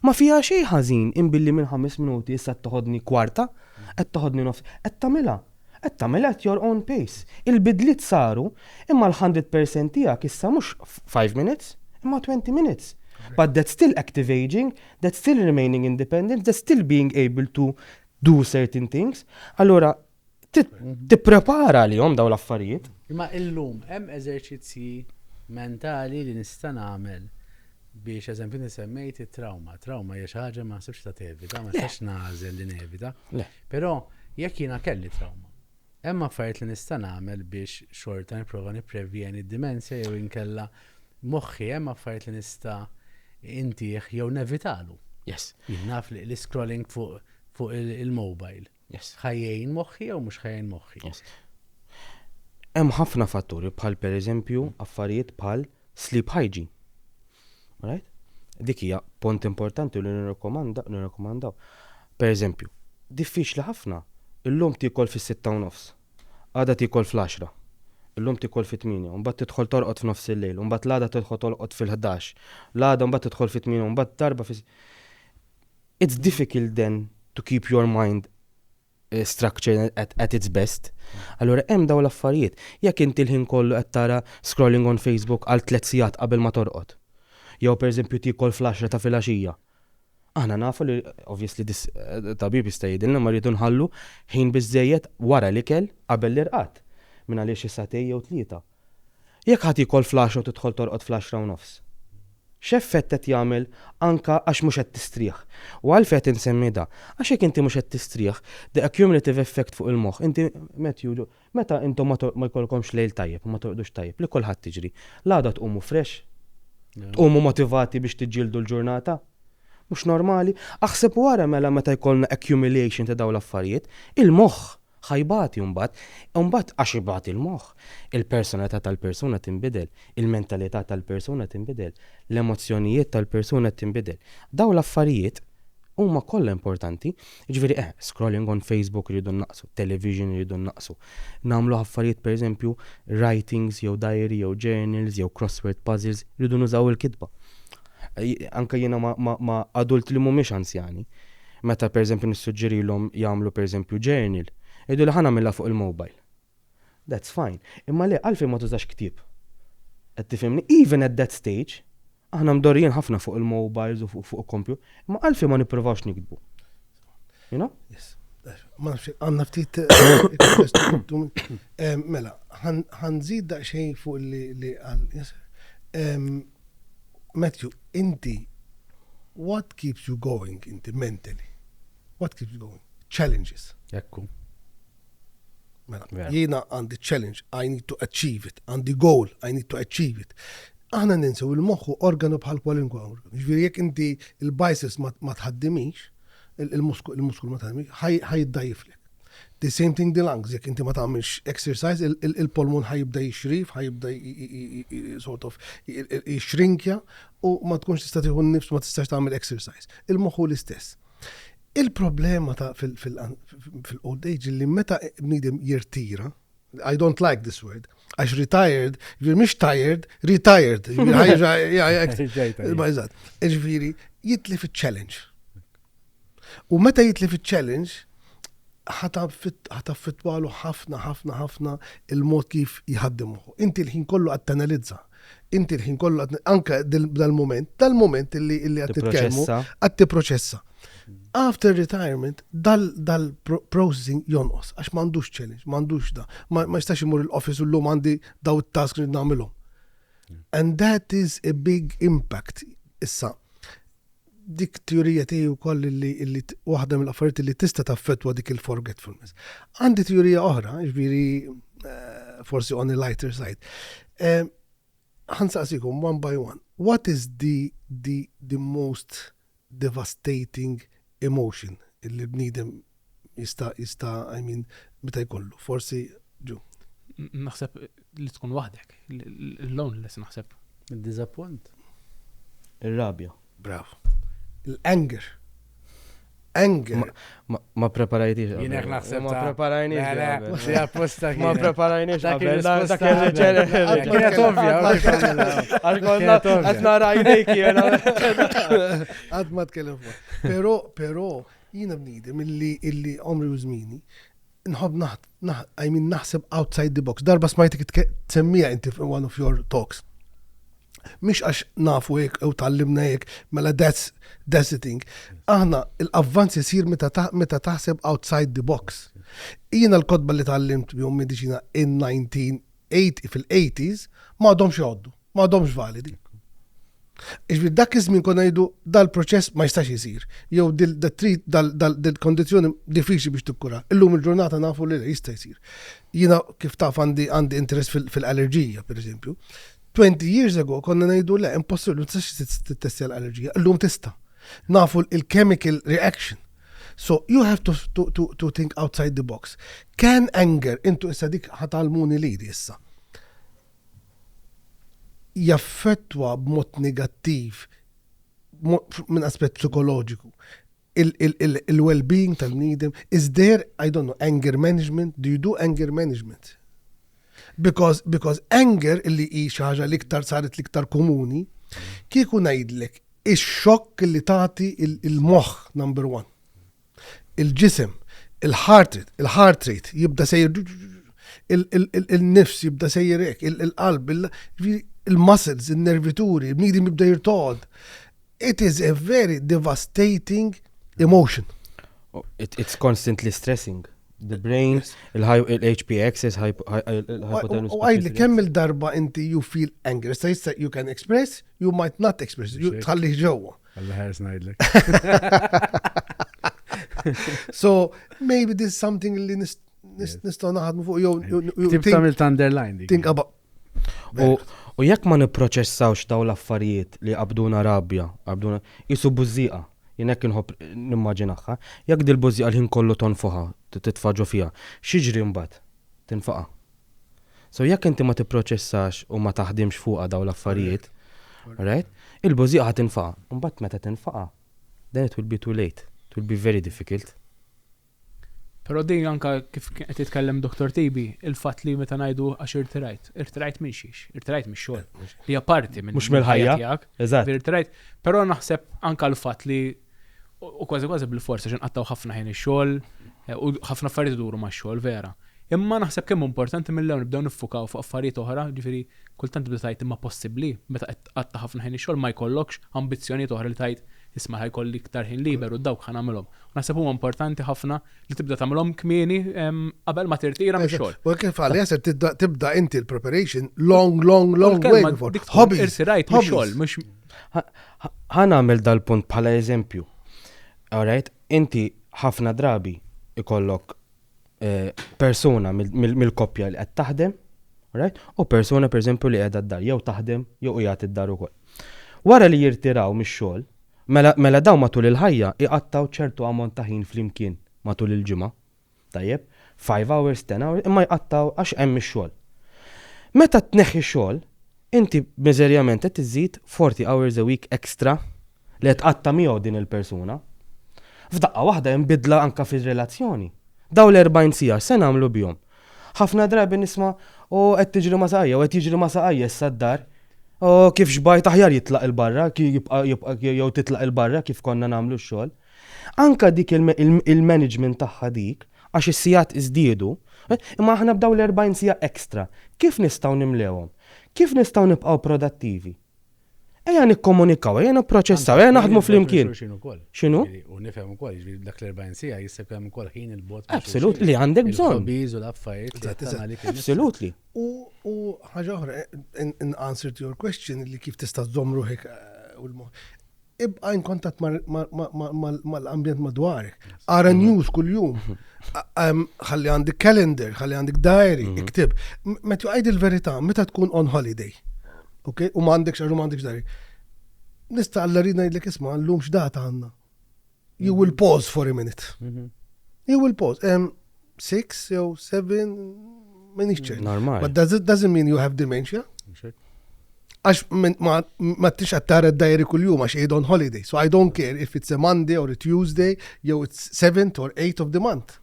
Ma fiha xejn ħażin inbilli minn ħames minuti issa toħodni kwarta, qed toħodni nofs, qed tagħmilha. Qed tagħmel at your own pace. Il-bidliet saru imma l-hundred percent tiegħek issa mhux five minutes imma twenty minutes. But that's still active ageing, that's still remaining independent, that's still being able to do certain things. Allura tipprepara għalihom dawn l-affarijiet. Imma illum hemm eżerċizzji mentali li nista' nagħmel Biex eżempju semmejt it-trawma. Trawma hija xi ħaġa ma nsibx ta' tevita, ma nistax nagħżel li nevita. Però jekk jiena kelli trawma, hemm affarijiet li nista' nagħmel biex xorta nipprova nipprevjeni d-dimensja jew inkella moħħi hemm affarijiet li nista' intih jew nevitalu. Yes. Naf li scrolling fuq il-mobile. Yes. Ħa jgħin moħħi jew mhux ħa jgħin moħħi. Yes. Hemm ħafna fatturi bħal pereżempju affarijiet bħal sleep hygiene. Right? Dik hija pont importanti li nirrekomanda nirrekomandaw. Pereżempju, diffiċli ħafna illum tikol fis-sitta u nofs. Għada tikol fl-10. Illum tikol fit-8, mbagħad tidħol torqod f'nofs il-lejl, mbagħad l-għada tidħol torqod fil-11, l-għada mbagħad tidħol fit-8, mbagħad darba fis It's difficult then to keep your mind structured at, at its best. Allura hemm dawn l-affarijiet. Jekk inti l-ħin kollu qed tara scrolling on Facebook għal tliet sigħat qabel ma torqod. Jew pereżempju tiekol fl-għaxra ta' filgħaxija. Aħna nafu li obviously dis eh, tabib jista' jgħidilna ma rridu nħallu ħin biżejjed wara l-ikel qabel l-irqad minn għaliex is-satej jew tlieta. Jekk ħa tiekol fl-għaxra u tidħol torqod fl-għaxra u nofs, x'effett qed jagħmel anke għax mhux qed tistrieħ? U għalfejn qed insemmi da? Għax jekk inti mhux qed tistrieħ, the accumulative effect fuq il-moħħ, inti Matthew, meta intom ma jkollkomx lejl tajjeb u ma torqdux tajjeb, li kulħadd tiġri, l-għada tqumu fresh? Tqumu motivati biex tiġġieldu l-ġurnata? Mhux normali? Aħseb wara mela meta jkollna accumulation ta' dawn l-affarijiet, il-moħħ Ħa jbati mbagħad. U mbagħad għax ibati l-moħħ, il-personalità tal-persuna tinbidel, il-mentalità tal-persuna tinbidel, l-emozzjonijiet tal-persuna tinbidel. Dawn l-affarijiet huma kollha importanti. Jiġifieri eħ, scrolling on Facebook irridu nnaqqsu, television irridu nnaqqsu. Nagħmlu affarijiet pereżempju writings jew diary jew journals jew crossword puzzles, irridu nużaw il-kitba. Anke jiena ma' adult li mhumiex anzjani. Meta pereżempju nissuġġerilhom jagħmlu pereżempju journal, jgħiduli ħa nagħmilha fuq il-mobile. That's fine. Imma le, għalfejn ma tużax ktieb? Qed tifhimni? Even at that stage, aħna mdorrijin ħafna fuq il-mobiles u fuq il-kompju, imma għalfejn ma nippruvawx niktbu? You know? Yes. Ma nafx, għanna ftit eh, eh, mela, ħanżid daqsxejn fuq li għal. Matthew inti what keeps you going inti mentally? What keeps you going? Challenges. Ekku. Mela, jiena għandi challenge, I need to achieve it, għandi goal, I need to achieve it. Aħna ninsew il-moħħu organu bħal kwalinkwa organu. Ġifieri jekk inti il-biceps ma tħaddimix, il-muskul ma tħaddimix, ħaj id-dajifli. The same thing the lungs, jekk inti ma tagħmilx exercise, il-polmun ħajibda jixrif, ħajibda sort of jixrinkja u ma tkunx tista' tieħu nifs ma tistax tagħmel exercise. Il-moħħu l-istess. Il-problema ta' fil-old age li meta bniedem jirtira, I don't like this word. Għax retired, ġviri mhix tired, retired. Ġviri, jitli fit challenge U meta jitli fit challenge ħataffitwalu ħafna, ħafna, ħafna il-mod kif jħaddimu. Inti l-ħin kollu għad tanalizza Inti l-ħin kollu anke dal-moment, dal-moment illi qed titkellmu qed tipproċessa. After retirement, dal-processing jonqos, għax m'għandux challenge, m'għandux da, ma jistax imur l-office u l-lum għandi daw it-task li nagħmilhom. And that is a big impact. Issa, dik tjurija tiegħi wkoll li waħda mill-affarijiet li tista' taffettwa dik il-forgetfulness. Għandi tjurija oħra, ġifieri eh, forsi on a lighter side. Eh, ħansaqsikom one by one. What is the, the, the most devastating emotion illi bnidem Jista' jista' I mean meta jkollu. Forsi ġu. Naħseb li tkun waħdek. L-loneliness naħseb. Id-diżappunt. Ir-rabja. Bravo. L-anger. Anger. Ma preparajtix. Jien hekk naħseb. Ma preparajniex. Le, le, xi apposta. Ma preparajniex. Dak kien dak kien reċel. Kienet ovvja. Għal konna qed nara jdejk jiena. Qatt ma tkellem fuq. Però, però Jiena bniedem illi illi għomri u żmieni nħobb naħ naħ I mean naħseb outside the box. Darba smajtek itke tsemmiha inti f' one of your talks. Mhix għax nafu hekk jew tgħallimna hekk, mela that's that's the thing. Aħna l-avvanz isir meta ta meta taħseb outside the box. Jiena l-kotba li tgħallimt bihom mediċina in 1980 fil-80s m'għadhomx jgħoddu. ma għadhomx validi. Iġbi dak iż-żmien konna ngħidu dal-proċess ma jistax isir, jew dil-trit dal-kondizzjoni diffiċli biex tikkura. Illum il-ġurnata nafu li jista' jsir. Jiena kif taf għandi għandi interess fil-allerġija, pereżempju. 20 years ago konna ngħidu le impossibbli ma tistax tittestja l-allerġija, illum tista'. Nafu il-chemical reaction. So you have to, to, to, to think outside the box. Can anger, intu issa dik ħatalmuni li issa. jaffettwa b'mod negattiv minn aspett psikoloġiku il-well-being tal-bniedem, is there, I don't know, anger management, do you do anger management? Because, because anger illi hi xi ħaġa l-iktar saret l-iktar komuni, kieku ngħidlek ix-xokk li tagħti il-moħħ number one. il-ġisem, il-heart il-heart rate jibda sejjer il-nifs jibda sejjer hekk, il-qalb, il-muscles, il-nervituri, il-bniedem jibda jirtod. It is a very devastating emotion. Oh, it, it's constantly stressing. The brain, il-HP axis, hypothalamus. U għajli kemm il-darba inti you feel angry, sa jista you can express, you might not express, you tħalli ġewwa. Alla ħers ngħidlek. So, maybe this is something li nist- nist- nistgħu naħdmu fuq jew jew- jew Tip think- tagħmel t'underline dik. think about U, u jekk ma nipproċessawx daw l-affarijiet li qabduna rabja, qabduna jisu bużżieqa, jien hekk inħobb nimmaġinaħħa, jekk dil-bużżieqa l-ħin kollu tonfoħa, t- titfaġu fiha, xiġri mbagħad? Tinfaqa. So jekk inti ma tipproċessax u ma taħdimx fuqha dawn l-affarijiet, alright, il-bużieqa ħa tinfaqa'. Imbagħad meta tinfaqa', then it will be too late, it will be very difficult. Però din anke kif kien qed jitkellem Dottor Tibi, il-fatt li meta ngħidu għax irtirajt, irtirajt minn xiex? Irtirajt mix-xogħol. Hija parti minn. Mhux mill-ħajja tiegħek. Eżatt. Irtirajt. Però naħseb anke l-fatt li u kważi kważi bil-fors għax inqattgħu ħafna ħin ix-xogħol u ħafna affarijiet iduru max-xogħol vera. Imma naħseb kemm hu importanti mill-ewwel nibdew niffukaw fuq affarijiet oħra, jiġifieri kultant tibda tgħid imma possibbli meta qed tqatta' ħafna ħin ix-xogħol ma jkollokx ambizzjonijiet oħra li tgħid isma' ħa jkolli iktar ħin liber u dawk ħa nagħmilhom. U naħseb huwa importanti ħafna li tibda tagħmilhom kmieni qabel ma tirtira mix-xogħol. U kif qal Yasser tibda inti l-preparation long long long way before. Dik tħobb irtirajt mix-xogħol mhux Ħa nagħmel dal-punt bħala eżempju. Alright, inti ħafna drabi ikollok eh, persuna mill-koppja li qed taħdem, alright, u persuna pereżempju li qiegħda d-dar jew taħdem jew qiegħed id-dar ukoll. Wara li jirtiraw mix-xogħol, mela, mela dawn matul il-ħajja iqattaw ċertu ammont ta' ħin flimkien matul il-ġimgħa. Tajjeb, five hours, ten hours, imma jqattgħu għax hemm ix-xogħol. Meta tneħħi x-xogħol, inti miżerjament qed iżżid forty hours a week extra li qed tqatta' miegħu din il-persuna. F'daqqa waħda hemm bidla anke fir-relazzjoni. Dawn l-erbgħin siegħa x'se nagħmlu bihom? Ħafna drabi nisma' O qed tiġri ma' saqajja, o qed jiġri ma' saqajja issa d-dar. O kif xbajt aħjar jitlaq 'il barra, jibqa' jew titlaq 'il barra kif konna nagħmlu x-xogħol. Anke dik il-management tagħha dik, għax is-sigħat iżdiedu, imma aħna b'dawn l-40 siegħa extra, kif nistgħu nimlewhom? Kif nistgħu nibqgħu prodattivi? Ejja nikkomunikaw, ejja nipproċessaw, ejja naħdmu flimkien. X'inhu? U nifhem ukoll, jiġri dak l-40 siegħa jista' jkun hemm ukoll ħin il-bot. Absolut li għandek bżonn. Biż u l-affarijiet. Absolut li. U ħaġa oħra, in answer to your question li kif tista' żomm ruħek u l-mod. Ibqa' in kontatt mal-ambjent madwarek. Ara mhm. news kuljum. Mhm. Ħalli għandek calendar, ħalli għandek diary, mhm. iktib. Meta jgħid il-verità, meta tkun on holiday. Ok, u m'għandekx għax u m'għandekx diary. Nista' alla rina jgħidlek isma' llum x'data għandna. You will pause for a minute. Mhm. You will pause. Um, six, jew seven, minix ċert. Normal. But does it doesn't mean you have dementia? Għax min- ma ma tix għattara d-dajri kull-jum għax id on holiday. So I don't care if it's a Monday or a Tuesday, jew it's 7th or 8th of the month.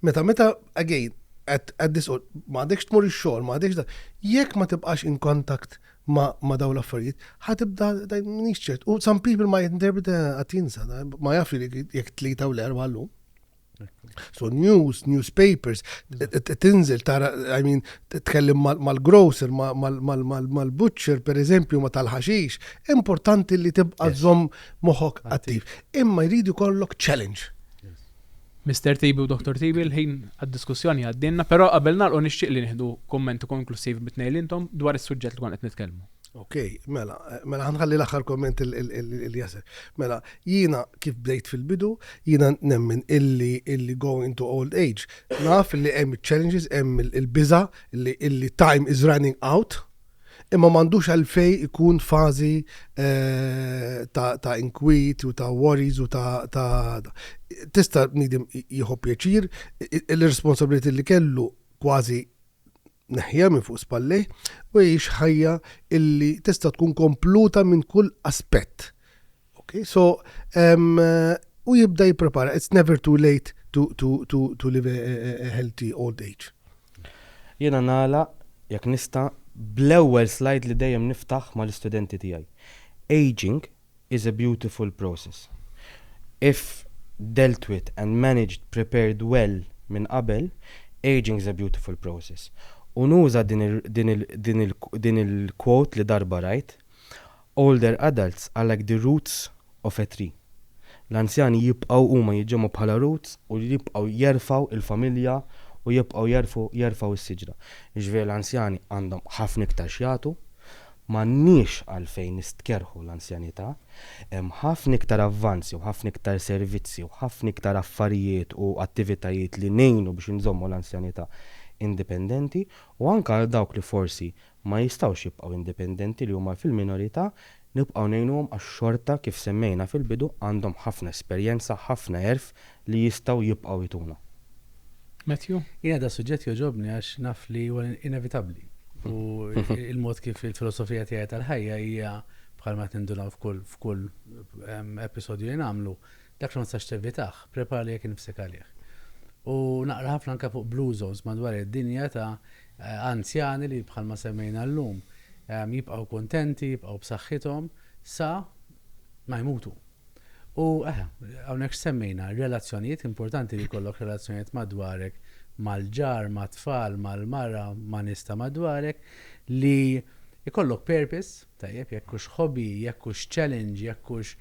Meta, meta, again, at, at this, or- ma għadekx tmur il-xol, ma għadekx da. Jekk ma tibqax in contact ma, ma daw l-affarijiet, ħatibda minix ċert. U some people ma jinterpreta għatinsa, ma jaf li jek tlita u l-erba għallum. So news, newspapers, tinżel tara, I mean, tkellim mal-grocer, mal-butcher, per eżempju, ma tal-ħaxix, importanti li tibqa zom moħok attiv. Imma jridu kollok challenge. Mister Tibi u Dottor Tibi, l-ħin għad-diskussjoni għaddielna, però qabel nagħlqu nixtieq li nieħdu kumment konklussiv mit-tnejn intom dwar is-suġġett li konna qed nitkellmu. Okej, mela, mela ħa nħalli l-aħħar kumment lil Yasser. Mela, jiena kif bdejt fil-bidu, jiena nemmen illi illi going into old age, naf illi hemm iċ-challenges, hemm il-biża' illi time is running out, Imma m'għandux għalfejn ikun fażi ta' inkwit u ta' worries u ta' tista' bniedem jieħu pjaċir l-irresponsabiliti li kellu kważi neħħiha minn fuq spallejh u jgħix ħajja illi tista' tkun kompluta minn kull aspett. Ok, so um, u jibda jipprepara, it's never too late to, to, to, to live a, a, a healthy old age. Jena nala, jekk nista, bl-ewwel slide li dejjem niftaħ mal-istudenti tiegħi. Aging is a beautiful process. If dealt with and managed, prepared well minn qabel, aging is a beautiful process. U nuża din il-quote li darba rajt, Older adults are like the roots of a tree. L-anzjani jibqgħu huma jiġġemgħu bħala roots u li jibqgħu jerfgħu il-familja u jibqgħu jerfgħu jerfgħu is-siġra. Jiġifieri l-anzjani għandhom ħafna iktar x'jagħtu. M'għandniex għalfejn nistkerrħu l-anzjanità. Hemm ħafna iktar avvanzi u ħafna iktar servizzi u ħafna iktar affarijiet u attivitajiet li ngħinu biex inżommu l-anzjanità indipendenti u anke għal dawk li forsi ma jistgħux jibqgħu indipendenti li huma fil-minorità nibqgħu ngħinuhom għax xorta kif semmejna fil-bidu għandhom ħafna esperjenza, ħafna għerf li jistgħu jibqgħu jtuna. Matthew? Jiena da suġġett jogħġobni għax naf li huwa inevitabbli u il-mod kif il-filosofija tiegħi tal-ħajja hija bħalma qed nindunaw f'kull episodju li nagħmlu dak li ma tistax tevitah, prepara li jekk nifsek għalih. U naqra ħafna anke fuq blue zones madwar id-dinja ta' Anzjani li, bħalma semmejna llum, jibqgħu kuntenti, jibqgħu b'saħħithom sa ma jmutu. U hawnhekk x'semmejna? Relazzjonijiet, importanti li jkollok relazzjonijiet madwarek, mal-ġar, mat-tfal, mal-mara, ma' nies ta' madwarek, li jkollok purpose, Tajjeb, jekk hux hobby, jekk hux challenge, jekk hux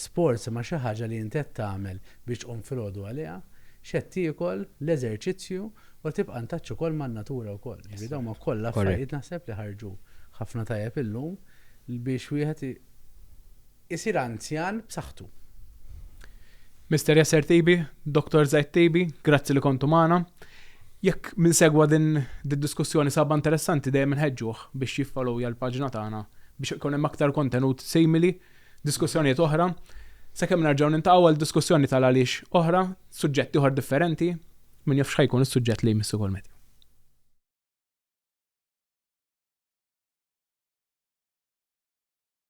sports imma xi ħaġa li int qed tagħmel biex tqum filgħodu għaliha, x'qed tiekol, l-eżerċizzju u tibqa' ntaċċ ukoll man-natura wkoll. Jiġifieri dawn huma kollha affarijiet naħseb li ħarġu ħafna tajjeb illum biex wieħed isir anzjan b'saħħtu. Mister Yasser Tibi, Dottor Zaid Tibi, grazzi li kontu magħna. Jekk min segwa din id-diskussjoni sahabha interessanti dejjem inħeġġuh biex jiffollowja l-paġna tagħna biex ikun hemm aktar kontenut simili, diskussjonijiet oħra. Sakemm nerġgħu niltaqgħu għal diskussjoni tal-għaliex oħra, suġġett ieħor differenti, min jaf x'ħa jkun is-suġġett li jmiss ukoll Matthew.